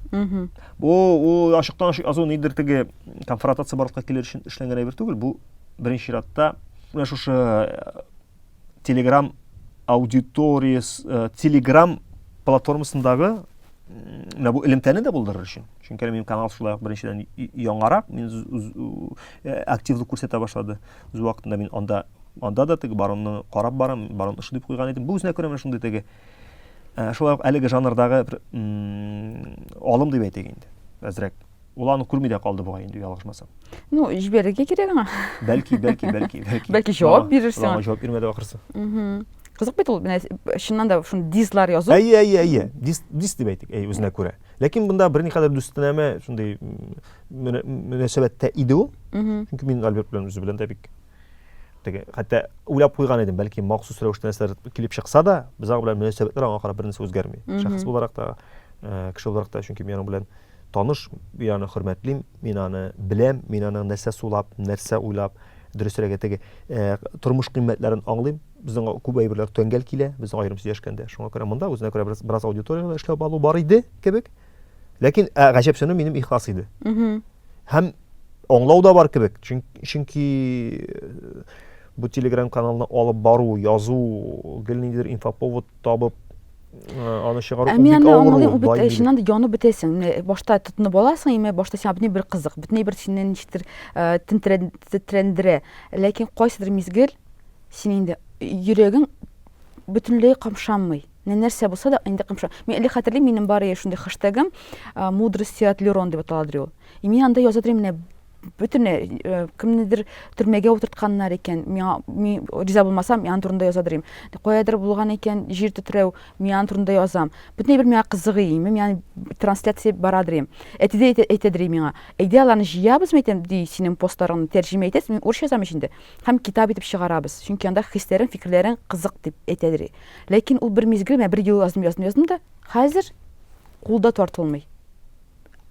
бу ул ачыктан ачык язу нидер теге конфронтация барлыкка килер өчен эшләнгән әйбер түгел бу беренче чиратта менә шушы телеграм аудиторияс телеграм платформасындагы менә бу элемтәне дә булдырыр өчен чөнки минем канал шулай ук беренчедән яңарак мин активлык күрсәтә башлады Үз вакытында мин анда анда да теге баронны карап барам, барон ошый дип куйган идем. Бу үзенә күрә менә шундый теге э, шулай ук әлеге жанрдагы бер алым дип әйтик инде. Әзрәк. Ул аны күрми дә калды бугай инде ялгышмасам. Ну, җибәрергә кирәк аңа. Бәлки, бәлки, бәлки, бәлки. Бәлки җавап бирерсең. Аңа җавап бирмәде ахырсы. Угу. Кызык бит ул, менә чыннан да шуны дизлар язу. Әйе, әйе, әйе. Диз, диз дип әйтик, әйе, үзенә күрә. Ләкин бында берникадәр дүстенәме, шундый мөнәсәбәттә иде ул. Чөнки мин Альберт белән үзе белән дә бик теге, хәтта уйлап куйган идем, бәлки махсус рәвештә нәрсәләр килеп чыкса да, без аның белән мөнәсәбәтләр аңа карап бернәрсә үзгәрми. Шәхес буларак та, э, кеше буларак та, чөнки мин аның белән таныш, мин аны хөрмәтлим, мин аны беләм, мин аның нәрсә сулап, нәрсә уйлап, дөресрәге теге, э, тормыш кыйммәтләрен аңлыйм. Безнең күп әйберләр тәңгәл килә, без аерым сөйләшкәндә. Шуңа күрә монда үзенә күрә бераз аудиториягә эшләп алу бар иде кебек. Ләкин ә, гаҗәпсенү минем ихлас иде. Һәм аңлау да бар кебек, чөнки бу телеграм каналны алып бару, язу, гел ниндидер инфоповод табып аны чыгару бик авыр. Аңлыйм, ул бит чыннан да янып бетәсең. Башта тотынып аласың, имә башта сиңа бөтен бер кызык, бөтен бер сине ничектер тетрәндерә. Ләкин кайсыдыр мизгел син инде йөрәгең бөтенләй камшанмый. Менә нәрсә булса да инде кымша. Мин әле хәтерлим, минем бар иде шундый хэштегым, э, мудрости от Лерон дип атала ди ул. И мин анда яза идем, менә бөтенләй э, кемнедер төрмәгә утыртканнар икән, миңа мин риза булмасам, мин аның турында яза идем. Каядыр булган икән җир тетрәү, мин аның турында язам. Бөтенләй бер миңа кызыгы име, мин аны трансляция бара идем. Әти дә әйтә, әйтә идем миңа. Әйдә аларны җыябызмы әйтәм, ди, синең постларыңны тәрҗемә итәсез, мин урысча язам ич инде. Һәм китап итеп чыгарабыз. Чөнки анда хисләрең, фикерләрең кызык дип әйтә идем. Ләкин ул бер мизгел, менә бер ел яздым, яздым, яздым да, хәзер кулда тартылмый.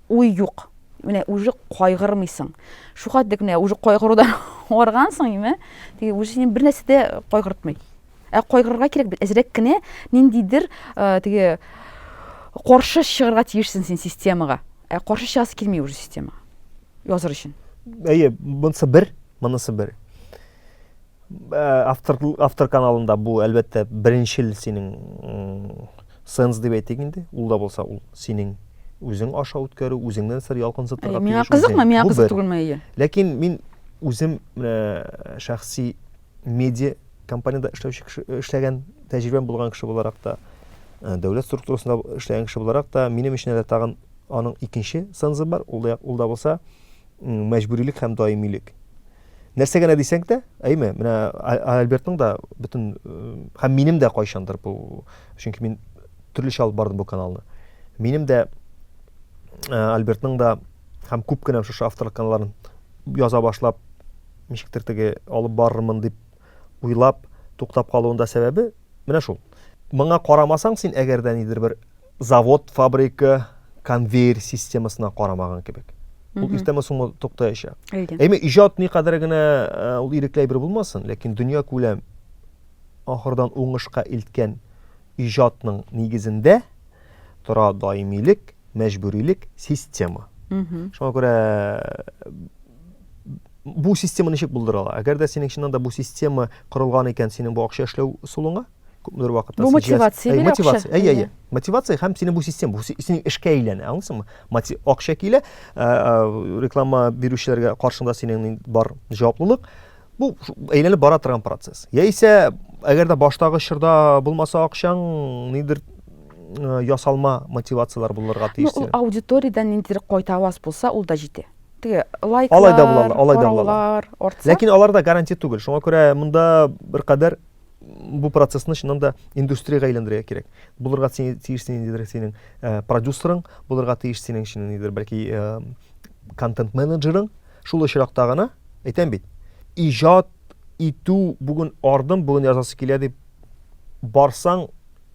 Уй юк. Менә уже кайгырмыйсың. Шу хәтлек менә уже кайгырудан аргансың, име? Теге уже сине бер нәрсә дә кайгыртмый. Ә кайгырырга кирәк бит, әзрәк кенә ниндидер э, теге каршы чыгарга тиешсең син системага. Ә каршы чыгасы килми уже системага. Языр өчен. Әйе, монысы бер, монысы бер. Э, автор, автор каналында бу әлбәттә беренчел синең сенс дип әйтик инде ул да булса ул синең үзең аша үткәрү үзеңнән сер ялкынсытырга миңа кызыкмы миңа кызык түгелме әйе ләкин мин үзем э, шәхси медиа компанияда эшләүче кеше эшләгән тәҗрибәм булган кеше буларак та э, дәүләт структурасында эшләгән кеше буларак та минем өчен әле тагын аның икенче сензы бар ул да, ул да булса мәҗбүрилек һәм даимилек Нәрсә генә дисәң дә, әйме, менә Альбертның да бөтен һәм минем дә кайчандыр бу, чөнки мин төрлечә алып бардым бу каналны. Минем дә Альбертның да һәм күп кенә шушы авторлык каналларын яза башлап, ничектер теге алып барырмын дип уйлап туктап калуында сәбәбе менә шул. Моңа карамасаң син әгәр дә нидер бер завод, фабрика, конвейер системасына карамаган кебек. Ул иртәме соңмы туктаячак. Әйме, иҗат никадәр генә э, ул ирекле әйбер булмасын, ләкин дөнья күләм ахырдан уңышка илткән иҗатның нигезендә тора даимилек, мәҗбүрилек, система. Шуңа күрә бу система ничек булдырыла? Әгәр дә синең чыннан да бу система корылган икән, синең бу акча эшләү ысулыңа, күпмедер вакытта бу мотивация бирә мотивация әйе әйе мотивация һәм синең бу система бу синең эшкә әйләнә аңлыйсыңмы Мати, акча килә ә, ә, реклама бирүчеләргә каршында синең бар җаваплылык Бу әйләнеп бара торган процесс. Яисә, әгәр дә баштагы чорда булмаса акчаң, нидер ясалма мотивацияләр булырга тиеш. Ну, ул аудиториядән ниндидер кайта аваз булса, ул да җитә. Теге лайклар, алай да булалар, алай да булалар. Ләкин алар да гарантия түгел. Шуңа күрә монда бер кадәр бу процессны чыннан да индустриягә әйләндерергә кирәк. Булырга тиеш ниндидер синең продюсерың, булырга тиеш синең чыннан нидер бәлки контент-менеджерың, Шул очракта гына, әйтәм бит, иҗат итү бүген ардым, бүген язасы килә дип барсаң,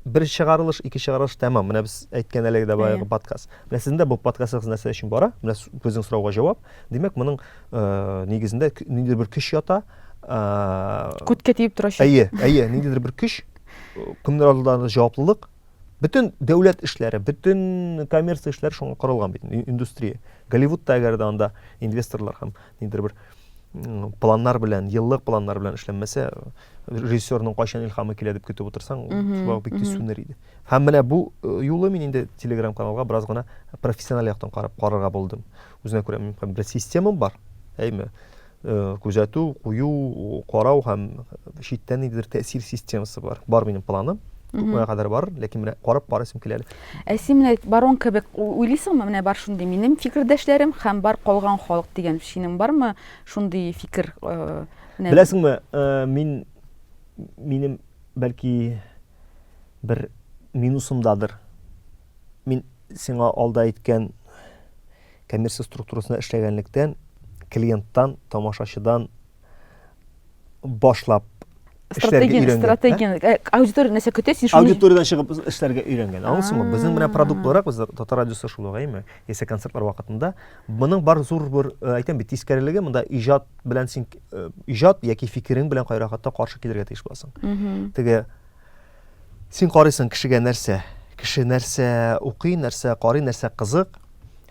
бер чыгарылыш, ике чыгарылыш тәмам. Менә без әйткән әлеге дә баягы подкаст. Менә сезнең дә бу подкастыгыз нәрсә өчен бара? Менә безнең сорауга җавап. Димәк, моның э, нигезендә ниндидер бер көч ята. Э, Күткә тиеп торачак. Әйе, әйе, ниндидер бер көч, э, кемнәр алдында җаваплылык, Бөтен дәүләт эшләре, бөтен коммерция эшләре шуңа корылган бит, индустрия. Голливудта әгәр дә анда инвесторлар һәм ниндидер бер планнар белән, еллык планнар белән эшләнмәсә, режиссерның кайчан илхамы килә дип көтеп утырсаң, шулай бик тиз сүнер иде. Һәм менә бу э, юлы мин инде Telegram каналга бераз гына профессиональ яктан карап карарга булдым. Үзенә күрә мөмкин бер система бар, әйме? Э, күзәтү, кую, карау һәм читтән ниндидер тәэсир системасы бар. Бар минем планым. Күпмегә кадәр бар, ләкин менә карап барасым килә әле. Ә син менә барон кебек уйлыйсыңмы? Менә бар шундый минем фикердәшләрем һәм бар калган халык дигән синең бармы шундый фикер? Э, Беләсеңме, э, мин минем бәлки бер минусымдадыр Мин сиңа алда әйткән коммерция структурасында эшләгәнлектән, клиенттан, тамашачыдан башлап Стратегияне, стратегияне, ә? Э, аудитория нәрсә көтә, син шуны... Аудиториядан чыгып эшләргә өйрәнгән. Аңласыңмы? Безнең менә продукт буларак, без татар радиосы шул ук, әйме? Яисә концертлар вакытында. Моның бар зур бер, э, әйтәм бит, тискәрелеге, монда иҗат белән син, э, иҗат яки фикерең белән кайракатта каршы килергә тиеш буласың. Теге Син карыйсың кешегә нәрсә, кеше нәрсә укый, нәрсә карый, нәрсә кызык,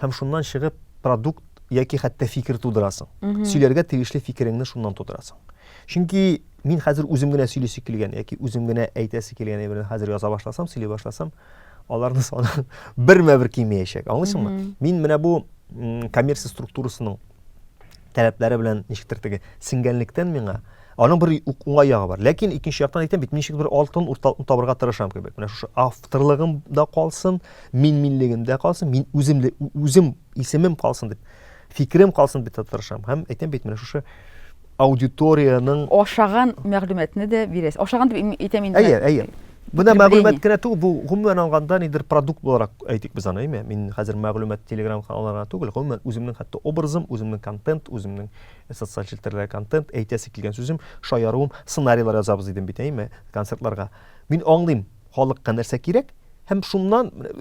һәм шуннан чыгып продукт яки хәтта фикер тудырасың. Сөйләргә тиешле фикереңне шуннан тудырасың. Чөнки мин хәзер үзем генә сөйлисе килгән яки үзем генә әйтәсе килгән әйберне хәзер яза башласам, сөйли башласам, аларны саны бермә бер кимеячәк. Аңлыйсыңмы? Мин менә бу коммерция структурасының таләпләре белән ничектер теге сиңгәнлектән миңа аның бер уңай ягы бар. Ләкин икенче яктан әйтәм бит, ничек бер алтын урталыкны табырга тырышам кебек. Менә шушы авторлыгым да калсын, мин минлегем дә калсын, мин үзем үзем исемем калсын дип, фикерем калсын дип тырышам. Һәм әйтәм бит, менә шушы аудиториянең ашаган мәгълүматны да бирәсез. Ашаган дип әйтәм инде. Әйе, әйе. Менә мәгълүмат кенә түгел, бу гомумән алганда нидер продукт буларак әйтик без аны, әйме? Мин хәзер мәгълүмат Telegram каналларына түгел, гомумән үземнең хәтта образым, үземнең контент, үземнең э, социаль челтәрдәге контент, әйтәсе килгән сүзем, шаяруым, сценарийлар язабыз дидем бит, әйме? Концертларга. Мин аңлыйм, халыкка нәрсә кирәк, һәм шуннан э,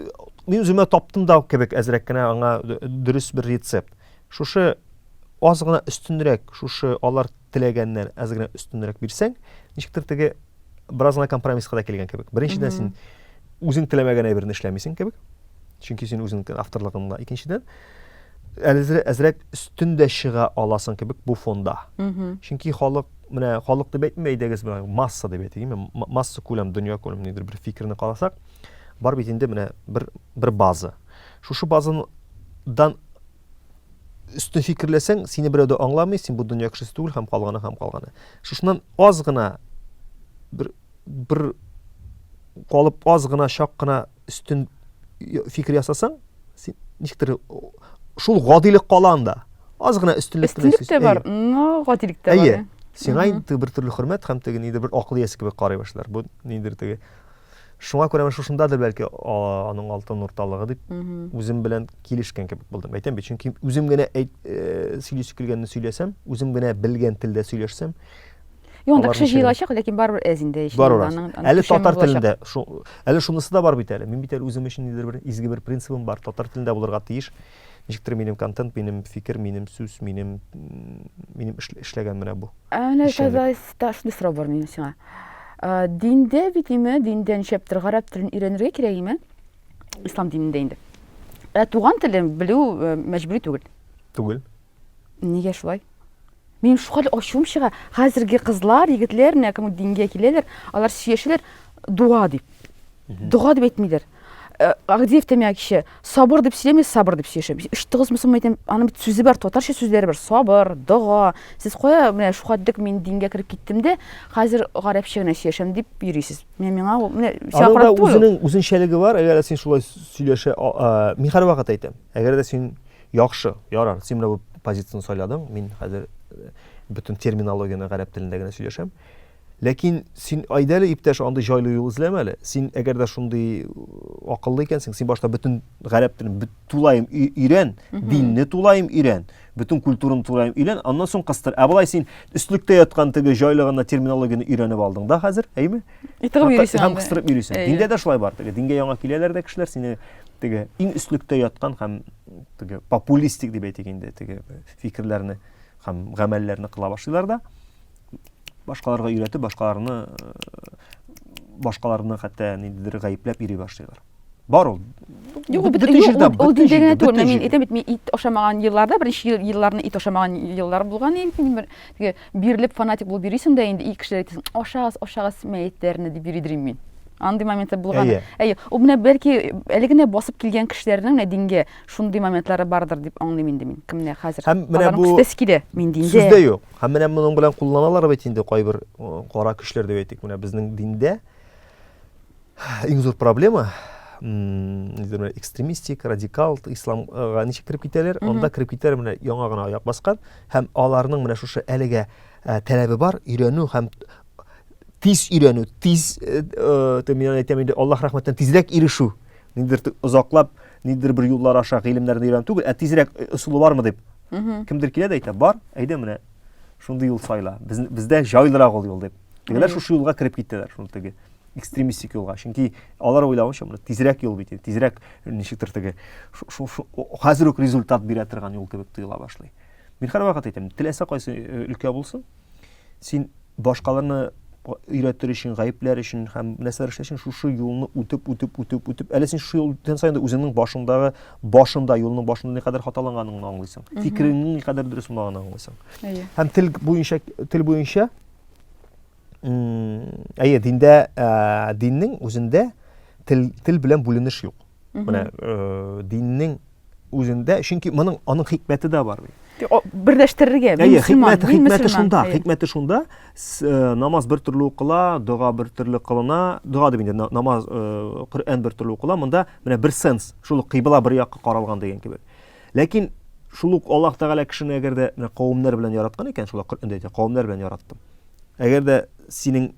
мин үземә таптым да кебек әзрәк кенә аңа дөрес бер рецепт. Шушы аз гына өстенрәк, шушы алар теләгәннән әз генә өстенрәк бирсәң, ничектер теге бераз гына компромисска да килгән кебек. Беренчедән син үзең теләмәгән әйберне эшләмисең кебек. Чөнки син үзең авторлыгыңда. Икенчедән, әзрәк өстен дә чыга аласың кебек бу фонда. Чөнки халык менә халык дип әйтмим, әйдәгез менә масса дип әйтик, масса күләм, дөнья күләм нидер бер фикерне карасак, бар бит инде менә бер бер база. Шушы базадан өстен фикерләсәң, сине берәү дә аңламый, син бу дөнья кешесе түгел һәм калганы һәм калганы. Шушыннан аз гына бер бер калып аз гына чак кына өстен фикер ясасаң, син ничектер шул гадилек кала анда. Аз гына өстенлек кенә. Өстенлек тә бар, но гадилек тә бар. Әйе. Сиңа инде бер төрле хөрмәт һәм теге нидер бер акыл иясе кебек карый башлар. Бу нидер теге Шуңа күрә менә шушындадыр бәлки аның алтын урталыгы дип үзем белән килешкән кебек булдым. Әйтәм бит, чөнки үзем генә әйт, э, сөйлисе килгәнне сөйләсәм, үзем генә белгән телдә сөйләшсәм, Юк, анда кеше җыелачак, ләкин барыбер әз инде ич. Барыбер аз. Әле татар телендә, әле шунысы да бар бит әле. Мин бит әле үзем өчен нидер бер изге бер принцибым бар, татар телендә булырга тиеш. Ничектер минем контент, минем фикер, минем сүз, минем минем эшләгән менә бу. Ә менә Казайста шундый сорау бар минем сиңа. Диндә бит име, диндә ничәптер гарәп телен өйрәнергә кирәк име? Ислам динендә инде. Ә туган телен белү мәҗбүри түгел. Түгел. Нигә шулай? Минем шулай ачуым чыга. Хәзерге кызлар, егетләр, менә кем дингә киләләр, алар сөйләшәләр дуа дип. Дуа дип әйтмиләр. Э, Агдиев тәмәк кеше сабыр дип сөйләми, сабыр дип сөйләшә. Өч тыгыз мусым әйтәм, аны бит сүзе бар, татарча сүзләре бар. Сабыр, дога. Сез кая менә шуга дик мин дингә кереп киттем дә, хәзер гарәпчә генә сөйләшәм дип йөрисез. Менә миңа ул менә чакырып туй. Аның үзенең үзенчәлеге бар, әгәр син шулай сөйләшә, мин һәрвакыт әйтәм. Әгәр дә син Яхшы, ярар, син менә бу позицияне сайладың, мин хәзер бөтен терминологияне гарәп телендә генә сөйләшәм. Ләкин син айда әле иптәш андый җайлы юл эзләмә әле. Син әгәр дә шундый э, акыллы икәнсең, син башта бөтен гарәп телен тулаем өйрән, динне тулаем өйрән, бөтен культураны тулаем өйрән, аннан соң кыстыр. Ә болай син өстлектә яткан теге җайлы гына терминологияне өйрәнеп алдың да хәзер, әйме? Итеп йөрисең. Һәм кыстырып йөрисең. Диндә дә шулай бар теге. Дингә яңа киләләр дә кешеләр, сине теге иң өслектә яткан һәм теге популистик дип әйтик инде теге фикерләрне һәм гамәлләрне кыла башлыйлар да башкаларга өйрәтеп башкаларны э, башкаларны хәтта ниндидер гаепләп йөри башлыйлар бар ул юк бөтен җирдә ул дин дигән түгел мин әйтәм бит мин ит ашамаган елларда беренче елларны ит ашамаган еллар булган бер теге Бирелеп фанатик булып йөрисең дә инде, ил кешеләре әйтсен, ашагыз, ашагыз мәетләрне дип йөридер мин. Андый моментлар булган. Әйе. Әйе. Ул менә бәлки әле генә басып килгән кешеләрнең менә дингә шундый моментлары бардыр дип аңлыйм инде мин. Кем менә хәзер. Һәм менә бу күстәсе килә. Мин диндә. Сүз дә юк. Һәм менә моның белән кулланалар бит инде кайбер кара көчләр дип әйтик, менә безнең диндә Иң зур проблема экстремистик, радикал исламга ничек кереп китәләр? Анда кереп китәләр менә яңа гына аяк баскан һәм аларның менә шушы әлегә ә, таләбе бар, өйрәнү һәм тиз өйрәнү, тиз э, э, мин әйтәм инде Аллаһ рәхмәтенә тизрәк ирешү. Нидер озаклап, нидер бер юллар аша гыйлемнәрне өйрәнү түгел, ә тизрәк э, ысулы бармы дип. Кемдер килә дә әйтә, бар, әйдә менә шундый юл сайла. Без, бездә җайлырак ул юл дип. Дигәләр шушы юлга кереп киттеләр, шул теге экстремистик юлга чөнки алар уйлавынча монда тизрәк юл бит тизрәк ничектер теге хәзер үк результат бирә торган юл кебек тоела башлый мин һәрвакыт әйтәм теләсә кайсы э, өлкә булсын син башкаларны өйрәтер өчен гаепләр өчен һәм нәрсәләр эшләр өчен шушы юлны үтеп үтеп үтеп үтеп әле син шушы юлны үткән саен үзеңнең башыңдагы башында юлның башында никадәр хаталанганыңны аңлыйсың фикереңнең никадәр дөрес булмаганын аңлыйсың һәм тел буенча тел буенча әйе диндә ә, диннең үзендә тел, тел белән бүленеш юк менә ә, диннең үзендә чөнки моның аның хикмәте дә бар берләштерергә әйе хикмәте хикмәте шунда хикмәте шунда э, намаз бер төрле укыла дога бер төрле кылына дога дип инде намаз э, коръән бер төрле укыла монда менә бер сенс шул кыйбла бер якка каралган деген кебек ләкин шул ук аллаһ тәгалә кешене әгәр дә менә кавемнәр белән яраткан икән шулай коръәндә әйтә кавемнәр белән яраттым Әгәр дә синең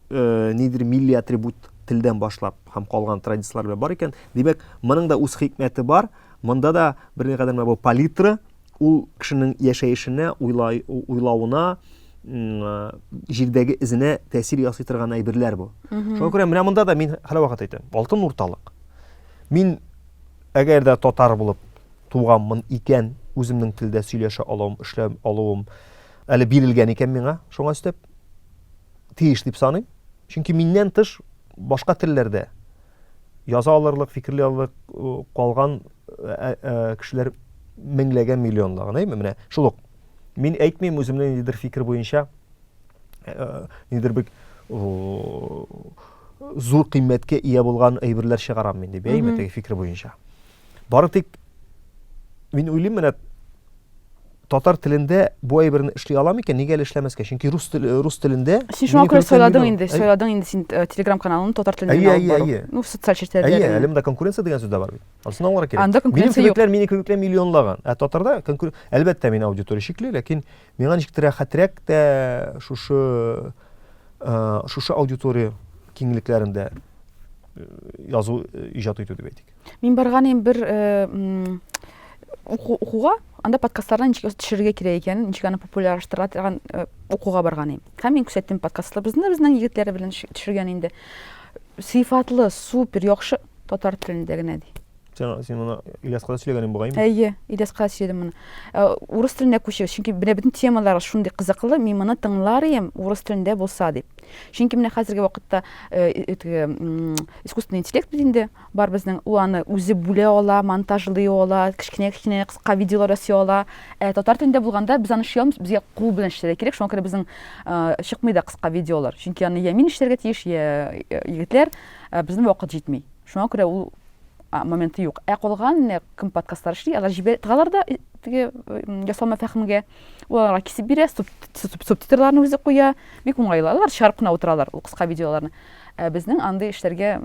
э, нидер милли атрибут телдән башлап һәм калган традицияләр белән бар икән, димәк, моның да үз хикмәте бар. Монда да бер никадәр менә бу палитра ул кешенең яшәешенә, уйлай, уйлавына, җирдәге эзенә тәэсир ясый торган әйберләр бу. Шуңа күрә менә монда да мин һәрвакыт әйтәм, алтын урталык. Мин әгәр дә татар булып туганмын икән, үземнең телдә сөйләшә алуым, эшләп алуым, Әле бирелгән икән миңа, шуңа өстәп, тиеш дип саныйм. Чөнки миннән тыш башка телләрдә яза алырлык, фикерли алырлык калган ә, ә, кешеләр меңләгән миллионлаган, әйме? Менә шул ук. Мин әйтмим үземнең ниндидер фикер буенча ә, ниндидер бик зур кыйммәткә ия булган әйберләр чыгарам мин дип, әйме, теге фикер буенча. Бары тик мин уйлыйм менә татар телендә бу әйберне эшли алам икән, нигә әле эшләмәскә? Чөнки рус тел э, рус телендә Син шуңа күрә сайладың инде, сайладың инде син э, Telegram каналын татар телендә алып бару. Әйе, әйе. Ну, социаль челтәрләр. Әйе, әле монда конкуренция дигән сүз дә бар бит. Анысына аңларга кирәк. Анда конкуренция юк. Минем минем кебекләр миллионлаган. Ә татарда конкуренция, әлбәттә, мин аудитория чикле, ләкин миңа ничектер рәхәтрәк тә шушы э, шушы аудитория киңлекләрендә язу иҗат итү дип әйтик. Мин барганым бер укуга, анда подкастларны ничек төшерергә кирәк икән, ничек аны популярлаштыра торган укуга барганым. Һәм мин күрсәттем подкастлар. Безне безнең егетләре белән төшергән инде. Сыйфатлы, супер, яхшы татар телендә генә ди. Сен, сен моны Ильяска да сөйләгәнең бугай инде. Әйе, Ильяска сөйләдем моны. Э, урыс телендә күчегез, чөнки менә бөтен темалар шундый кызыклы, мин моны тыңлар идем урыс телендә булса дип. Чөнки менә хәзерге вакытта э, искусственный интеллект бит инде, Бар безнең ул аны үзе бүлә ала, монтажлый ала, кечкенә-кечкенә кыска видеолар ясый ала. Ә татар телендә булганда без аны эшли алмыйбыз, безгә кул белән эшләргә кирәк, шуңа күрә безнең чыкмый да кыска видеолар. Чөнки аны йә мин эшләргә тиеш, йә егетләр, ә безнең вакыт җитми. Шуңа күрә ул моменты юк. Ә калган менә кем подкастлар эшли, алар җибә тыгалар да теге ясалма фәһемгә. Ул аларга кисеп бирә, субтитрларны үзе куя. Бик уңайлы. Алар чыгарып кына утыралар ул кыска видеоларны. Ә безнең андый эшләргә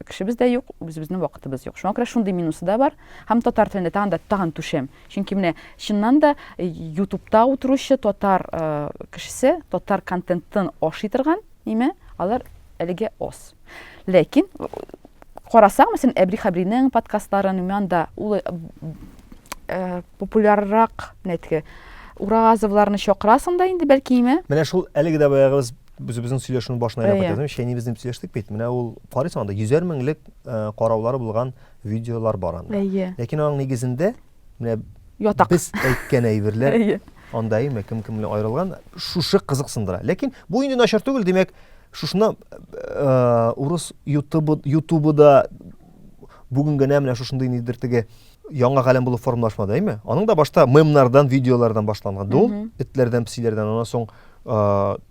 кешебез дә юк, үзебезнең вакытыбыз юк. Шуңа күрә шундый минусы да бар. Һәм татар телендә тагын да тагын түшәм. Чөнки менә чыннан да э, ютубта утыручы татар э, кешесе, татар контентын ашый торган, ниме, алар әлегә ос. Ләкин карасаң, мәсәлән, Әбри Хабринең подкастларын, анда ул э, популяррак, нәтке, Уразовларны чакырасың да инде, бәлки име? Менә шул әлеге дә баягыбыз Без безнең сөйләшүнең башына әйләнеп кайтабыз. Әйе. Чәйни безнең сөйләштек бит. Менә ул карыйсың анда 100 меңлек э, караулары булган видеолар бар анда. Әйе. Ләкин аның нигезендә менә Ятак. без әйткән әйберләр Әйе. анда әйме кем кем белән аерылган шушы кызыксындыра. Ләкин бу инде начар түгел, димәк, шушына э, урыс ютубы ютубы да бүген генә менә шушындый нидер теге яңа галәм булып формалашмады әйме аның да башта мемнардан видеолардан башланган ул этләрдән псиләрдән аннан соң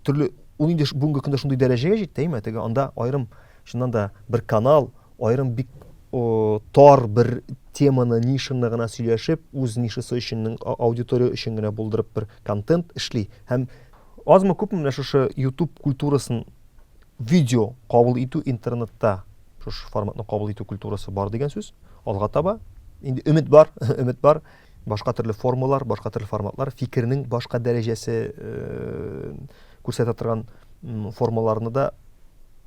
төрле ул инде бүгенге көндә шундый дәрәҗәгә җитте әйме теге анда аерым чыннан да бер канал аерым бик тар бер теманы нишаны гына сөйләшеп үз нишасы өчен аудитория өчен генә булдырып бер контент эшли һәм азмы күпме менә шушы ютуб культурасын видео кабул итү интернетта Шушы форматны кабул итү культурасы бар дигән сүз. Алга таба инде өмет бар, өмет бар. Башка төрле формалар, башка төрле форматлар, фикернең башка дәрәҗәсе э, күрсәтә торган формаларны да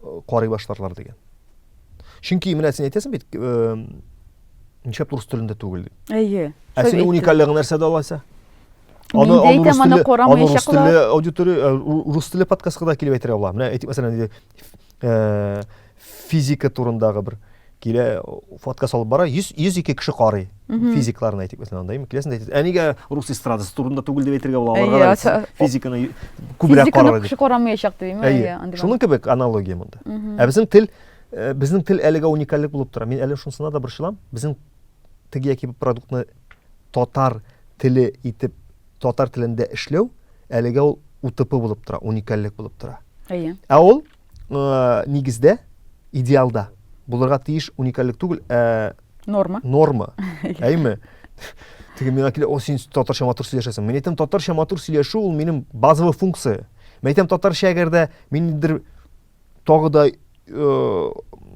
э, карый башларлар дигән. Чөнки менә син әйтәсең бит, э, нишләп урыс телендә түгел дип. Әйе. Ә синең уникальлыгың нәрсәдә алайса? Аны әйтәм, аны карамаячаклар. Аны рус теле аудитория, рус теле подкастка да килеп әйтергә була. Менә әйтик, мәсәлән, Э, физика турындагы бер килә фотка салып бара 100 102 кеше карый физикларны әйтик мәсәлән анда киләсен әйтәсез ә нигә рус эстрадасы турында түгел дип әйтергә була аларга да физиканы күбрәк карар кеше карамаячак димме әйе шуның кебек аналогия монда ә безнең тел э, безнең тел әлегә уникальлек булып тора мин әле шунысына да борчылам безнең теге яки бу продуктны татар теле итеп татар телендә эшләү әлегә ул утп булып тора, уникальлек булып тора. Әйе. Ә ул э, нигездә, идеалда булырга тиеш уникальлек түгел, ә норма. Норма. Әйме? Теге миңа килә, о, син татарча матур сөйләшәсең. Мин әйтәм, татарча матур сөйләшү ул минем базовый функция. Мин әйтәм, татарча әгәр дә миндер тагы да э,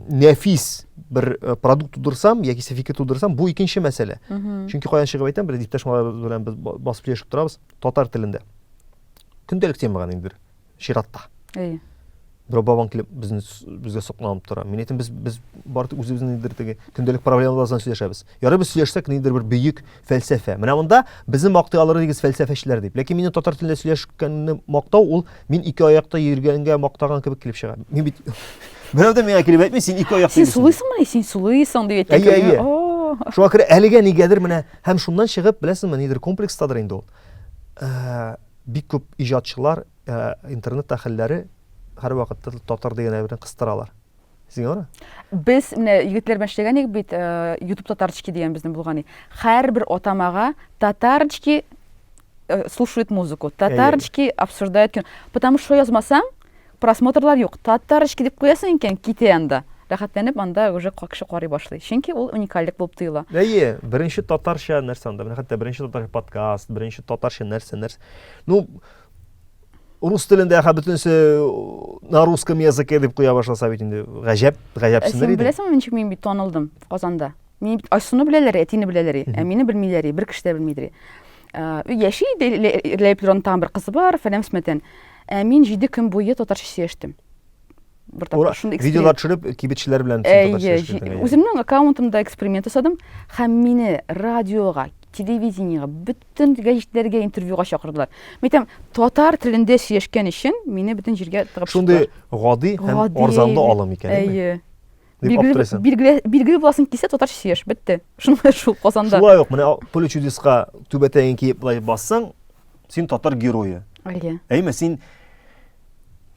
нәфис бер э, продукт тудырсам яки сәфике тудырсам бу икенче мәсьәлә чөнки каян чыгып әйтәм бер иптәш малайларыбыз белән без басып сөйләшеп торабыз татар телендә көндәлек тема гына инде чиратта әйе берәү бабаң килеп безне безгә сокланып тора мин әйтәм без без бары тик үзебезнең теге көндәлек проблемаларыбыздан сөйләшәбез Ярый без сөйләшсәк, ниндидер бер бөек фәлсәфә. Менә монда безне мактый алыр идегез фәлсәфәчеләр дип. Ләкин мине татар телендә сөйләшкәнне мактау ул мин ике аякта йөргәнгә мактаган кебек килеп чыга. Мин бит Берәү дә миңа килеп әйтми, син ике аякта Син сулыйсыңмы? Син сулыйсың дип әйтә. Әйе, әйе. Шуңа күрә әлегә нигәдер менә һәм шуннан чыгып, беләсезме, нидер комплекстадыр инде ул. Э, бик күп иҗатчылар, э, интернет әһелләре һәрвакытта татар дигән әйберне кыстыралар. Сеньора? Без менә егетләр белән эшләгән идек бит, э, YouTube татарчки дигән безнең булган иде. Һәрбер атамага татарчки э, слушают музыку, татарчки обсуждают кино. Потому что язмасаң, просмотрлар юк. Татарчки дип куясың икән, китә анда. Рәхәтләнеп анда уже кеше карый башлый. Чөнки ул уникальлек булып тоела. Әйе, беренче татарча нәрсә анда? Менә хәтта беренче татарча подкаст, беренче татарча нәрсә, нәрсә. Ну, рус телендә ха бөтенесе на русском языке дип куя башласа бит инде гаҗәп гаҗәпсенер иде. Син беләсеңме ничек мин бит танылдым Казанда? Мин бит Айсуны беләләр, әтине беләләр, ә мине белмиләр, бер кеше дә белмидер. Өй яши иде Ләйплронтан бер кызы бар, фәләмсмәтен. Ә мин 7 көн буе татарча сөйләштем. бер тапкыр шундый видеолар төшереп кибетчеләр белән үземнең аккаунтымда эксперимент ясадым һәм мине радиога телевидениега бөтен гәҗитләргә интервьюга чакырдылар мен әйтәм татар телендә сөйләшкән өчен мине бөтен җиргә тыгып шундый гади һәм арзанлы алым икән әйе билгеле буласың килсә татарча сөйләш бетте шулай шул казанда шулай ук менә поле чудеска түбәтәен киеп былай бассаң син татар герое әйе әйме син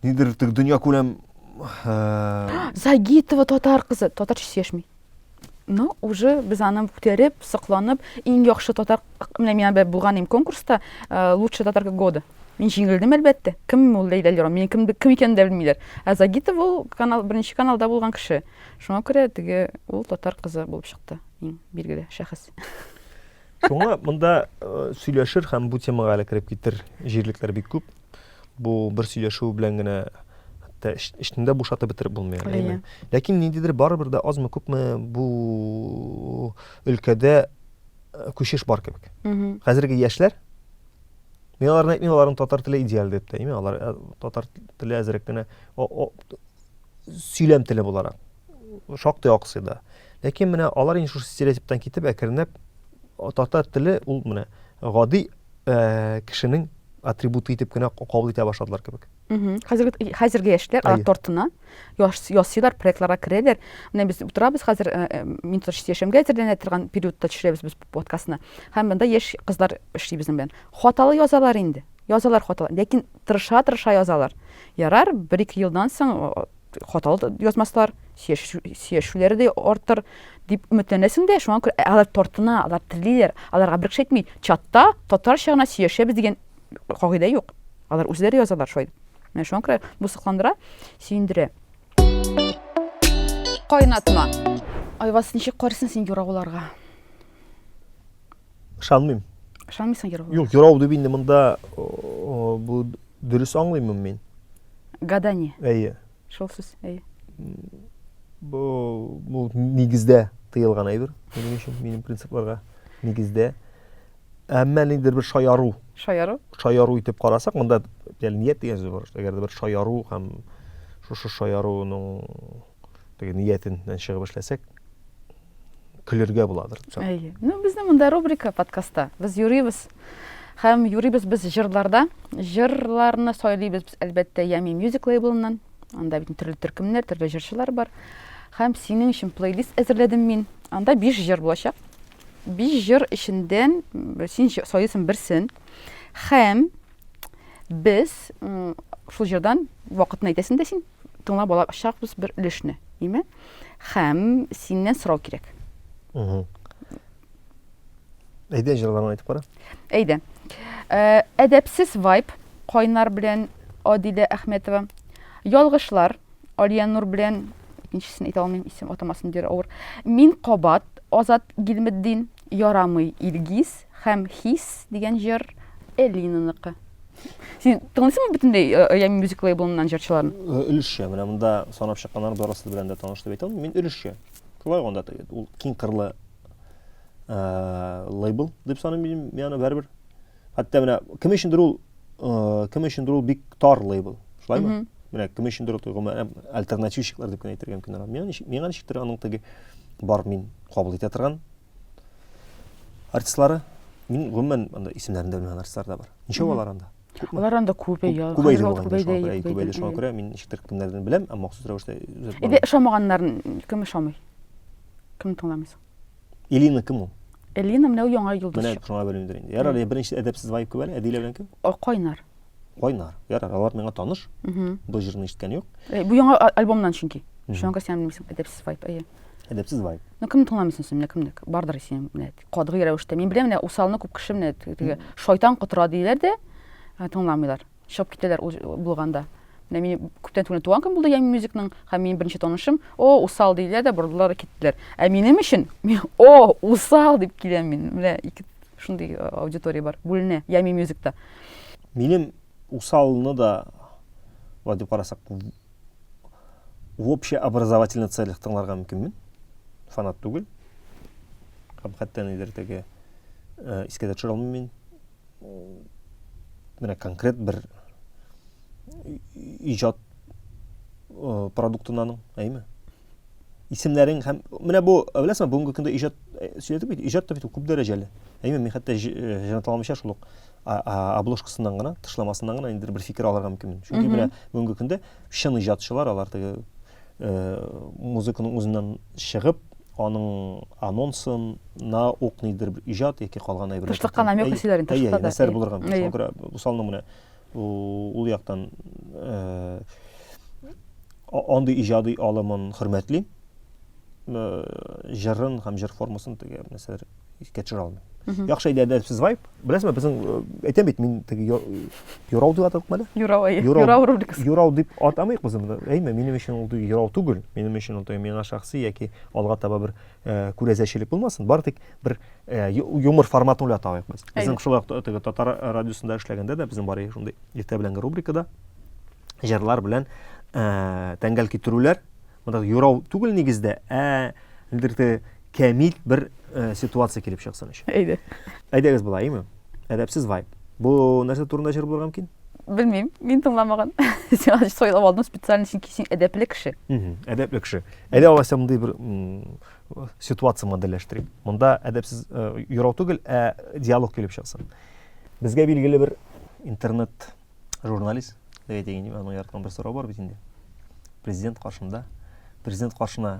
нидер теге дөньякүләм э, Загитова татар кызы, татарча сөйләшми. Ну, уже без аны күтәреп, сокланып, иң яхшы татар, менә мин бер булган идем конкурста, э, лучшая татарка года. Мин җиңелдем әлбәттә. Кем ул Ләйлә Лерон? Мин кем, кем икәнен дә белмиләр. Ә Загитов ул канал, беренче каналда булган кеше. Шуңа күрә теге ул татар кызы булып чыкты. Иң билгеле шәхес. Шуңа монда э, сөйләшер һәм бу темага әле кереп китер җирлекләр бик күп. Бу бер сөйләшү белән генә хәтта эшне дә бушатып бетереп булмый әле, әйме? Ләкин ниндидер барыбер дә азмы күпме бу өлкәдә э, күчеш бар кебек. Хәзерге яшьләр Мин аларны әйтмим, аларның татар теле идеаль дип тә әйме, алар э, татар теле әзрәк кенә сөйләм теле буларак. шактый аксый да. Ләкин менә алар инде шушы стереотиптан китеп әкренләп татар теле ул менә гади э, кешенең атрибуты итеп кенә кабул итә башладылар кебек. Хәзерге хәзерге яшьләр алар тортына ясыйлар, проектларга керәләр. Менә без утырабыз хәзер э, э, мин тотыш яшәмгә әзерләнә торган периодта төшерәбез без подкастны. Һәм монда яшь кызлар эшли безнең белән. Хаталы язалар инде. Язалар хаталы, ләкин тырыша-тырыша язалар. Ярар, бер-ике елдан соң хаталы да язмаслар, сөйләшүләре дә артыр дип өметләнәсең дә, шуңа күрә алар тартына, алар телиләр, аларга бер кеше әйтми, чатта татарча гына сөйләшәбез дигән кагыйдә юк. Алар үзләре язалар шулай. Менә шуңа күрә бу сокландыра, сөендерә. Кайнатма. Айваз ничек карыйсың син юрагуларга? Ышанмыйм. Ышанмыйсың юрау? Юк, юрау дип инде монда бу дөрес аңлыйммы мин? Гадание. Әйе. Шул сүз, әйе. Бу бу нигездә тыелган әйбер. Минем өчен минем принципларга нигездә. Әмма ниндидер бер шаяру. Шаяру? Шаяру итеп карасак, монда ният дигән сүз бар. Әгәр дә бер шаяру һәм шушы шаяруның теге ниятеннән чыгып эшләсәк, көлергә буладыр. Әйе. Ну, безнең монда рубрика подкастта. Без юрибез. Һәм юрибез без җырларда. Җырларны сайлыйбыз без, әлбәттә, Ями Music лейблыннан. Анда бит төрле төркемнәр, төрле җырчылар бар. Һәм синең өчен плейлист әзерләдем мин. Анда 5 җыр булачак. 5 җыр эчендән син сайлыйсың берсен. Һәм без шул җырдан вакытын әйтәсең дә син тыңлап алачакбыз бер өлешне име һәм синнән сорау кирәк әйдә җырларны әйтеп кара әйдә э, әдәпсез вайп кайнар белән адилә әхмәтова ялгышлар алия нур белән икенчесен әйтә алмыйм исем атамасын дер авыр мин кабат азат гилметдин ярамый илгиз һәм хис дигән җыр Элинаныкы. Син тыңлыйсыңмы бөтенләй э, Оями мюзик лейблыннан җырчыларын? Э, өлешчә, менә монда санап чыкканнар барысы белән дә таныш дип әйтә Мин өлешчә. Шулай гында ул киң кырлы э, лейбл дип саныйм мин, яны бәрбер. Хәтта менә кем өчендер ул кем өчендер ул бик тар лейбл. Шулаймы? Менә кем өчендер ул гомумән альтернативщиклар дип кенә әйтергә мөмкин. Миңа ничектер аның теге бар мин кабул итә торган Артистлары мин гомумән анда исемнәрен дә белмәгән артистлар да бар. Ничә алар анда? Алар анда күбәя. Күбәйде шуңа күрә. Күбәйде шуңа күрә мин ничектер кемнәрдән беләм, ә махсус рәвештә үзәк. Иде ошамаганнарын кем ошамый? Кем тыңламыйсың? Элина кем ул? Элина менә яңа юлдаш. Менә шуңа белмидер инде. Ярар, беренче әдәпсез вайп күбәле, әдилә белән кем? Кайнар. Кайнар. Ярар, алар миңа таныш. Бу җырны ишеткән юк. Э, бу яңа альбомнан чөнки. Шуңа син белмисең, әдәпсез вайп. Әйе. Әдәпсез вайп. Ну кемне тыңламыйсың син, менә кемне? Бардыр син, менә катгый рәвештә. Мин беләм, менә усалны күп кеше менә теге шайтан котыра диләр дә, ә, тыңламыйлар. Чыгып китәләр ул булганда. Менә мин күптән түгел туган көн булды Ями мюзикның, һәм минем беренче танышым, о, усал диләр дә, бордылар киттеләр. Ә минем өчен, о, усал дип киләм мин. Менә ике Шундый аудитория бар. Бүленә. Ями мюзикта. Минем усалны да Ва дип карасак, в общеобразовательный целях тыңларга мөмкинмен. Фанат түгел. Һәм хәтта нидер теге э, искә дә төшерә алмыйм мин. Менә конкрет бер иҗат э, продуктыннан, әйме? исемнәрең һәм менә бу беләсеңме бүгенге көндә иҗат э, сөйләдек бит иҗат та бит күп дәрәҗәле әйме мин хәтта э, җанатламыйча шул ук обложкасыннан гына тышламасыннан гына инде бер фикер алырга мөмкинмен чөнки менә бүгенге көндә чын иҗатчылар алар теге э, музыканың үзеннән чыгып аның анонсына ук нидер бер иҗат яки калган әйберләр тышта калган әмир хәсиләрен тышта да әйе нәрсәләр булырга мөмкин шуңа күрә бусалның менә ул яктан андый иҗади алымын хөрмәтлим җырын һәм җыр формасын теге нәрсәләр искә төшерә алмыйм яхшы әйдә әдәпсез вайп беләсезме безнең әйтәм бит мин теге юрау дип атадыкмы әле юрау әйе юрау рубрикасы юрау дип атамыйк без аны әйме минем өчен ул юрау түгел минем өчен ул миңа шәхси яки алга таба бер Э, күрәзәчелек булмасын бары тик бер э, юмор форматын уйлатайык без безнең шулай ук теге татар радиосында эшләгәндә дә безнең бар иде шундый иртә беләнге рубрикада җырлар белән э, тәңгәл китерүләр монда юрау түгел нигездә ә нидер кәмил бер ситуация килеп чыксын өчен әйдә әйдәгез болай име Әдәпсез вайп. Бу нәрсә турында җыр булырга мөмкин? Белмим, мин тыңламаган. Син ачы сойлап алдың специально, чөнки син әдәпле кеше. Әдәпле кеше. Әйдә алайса мондый бер ситуация модельләштерик. Монда әдәпсез э, юрау түгел, ә диалог килеп чыксын. Безгә билгеле бер интернет журналист, әйтәйин, аның ярткан бер сорау бар бит инде. Президент каршында, президент каршына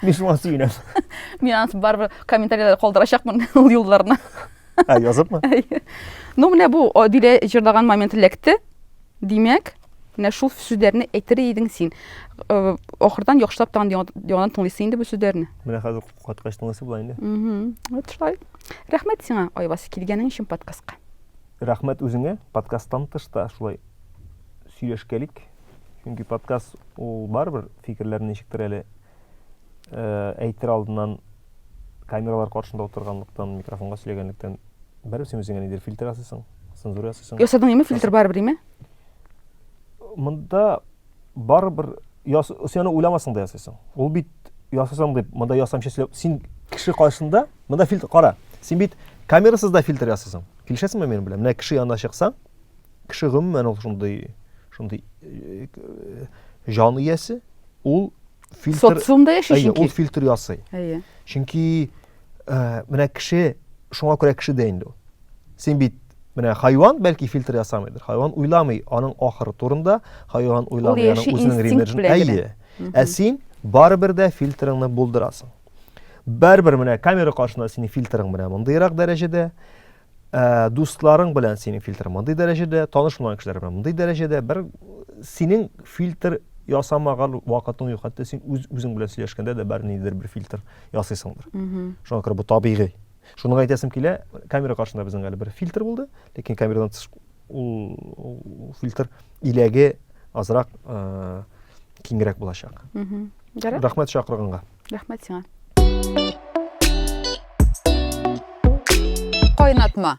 Мин шуңа сөенәм. Мин аны барыбер комментарийларда калдырачакмын ул юлларны. Ә языпмы? Ну менә бу Адилә җырлаган момент эләкте. Димәк, менә шул сүзләрне әйтер идең син. Э, Ахырдан яхшылап тагын яңадан тыңлыйсы инде бу сүзләрне. Менә хәзер каткач тыңлыйсы була инде. Вот шулай. Рәхмәт сиңа, Айвас, килгәнең өчен подкастка. Рәхмәт үзеңә. Подкасттан тышта шулай сөйләшкәлик. Чөнки подкаст ул барыбер фикерләрне ничектер әле э, әйтер алдыннан камералар каршында утырганлыктан, микрофонга сөйләгәнлектән бәрәбәр син үзеңә нидер фильтр ясыйсың, цензура ясыйсың. Ясадың име фильтр барыбер име? Монда барыбер яс, син аны уйламасаң да ясыйсың. Ул бит ясасаң дип, монда ясамчы сөйләп, син кеше каршында, монда фильтр кара. Син бит камерасыз да фильтр ясыйсың. Килешәсеңме минем белән? Менә кеше янына чыксаң, Кеше гомумән ул шундый шундый җан иясе, ул фильтр социумда яши чөнки. Ул фильтр ясый. Әйе. Чөнки э, менә кеше шуңа күрә кеше дә инде ул. Син бит менә хайван бәлки фильтр ясамыйдыр. Хайван уйламый аның ахыры турында, хайван уйламый аның үзенең ремеджен. Әйе. Ә син барыбер дә фильтрыңны булдырасың. Барыбер менә камера каршында синең фильтрың менә мондыйрак дәрәҗәдә. Ә, дусларың белән синең фильтр мондый дәрәҗәдә, танышмаган кешеләр белән мондый дәрәҗәдә бер синең фильтр ясамаган вакытың юк. Хәтта син үз үзең белән сөйләшкәндә дә бер ниндидер бер фильтр ясыйсыңдыр. Шуңа күрә бу табигый. Шуны әйтәсем килә, камера каршында безнең әле бер фильтр булды, ләкин камерадан тыш ул фильтр иләге азрак киңрәк булачак. Рәхмәт чакырганга. Рәхмәт сиңа. Кайнатма.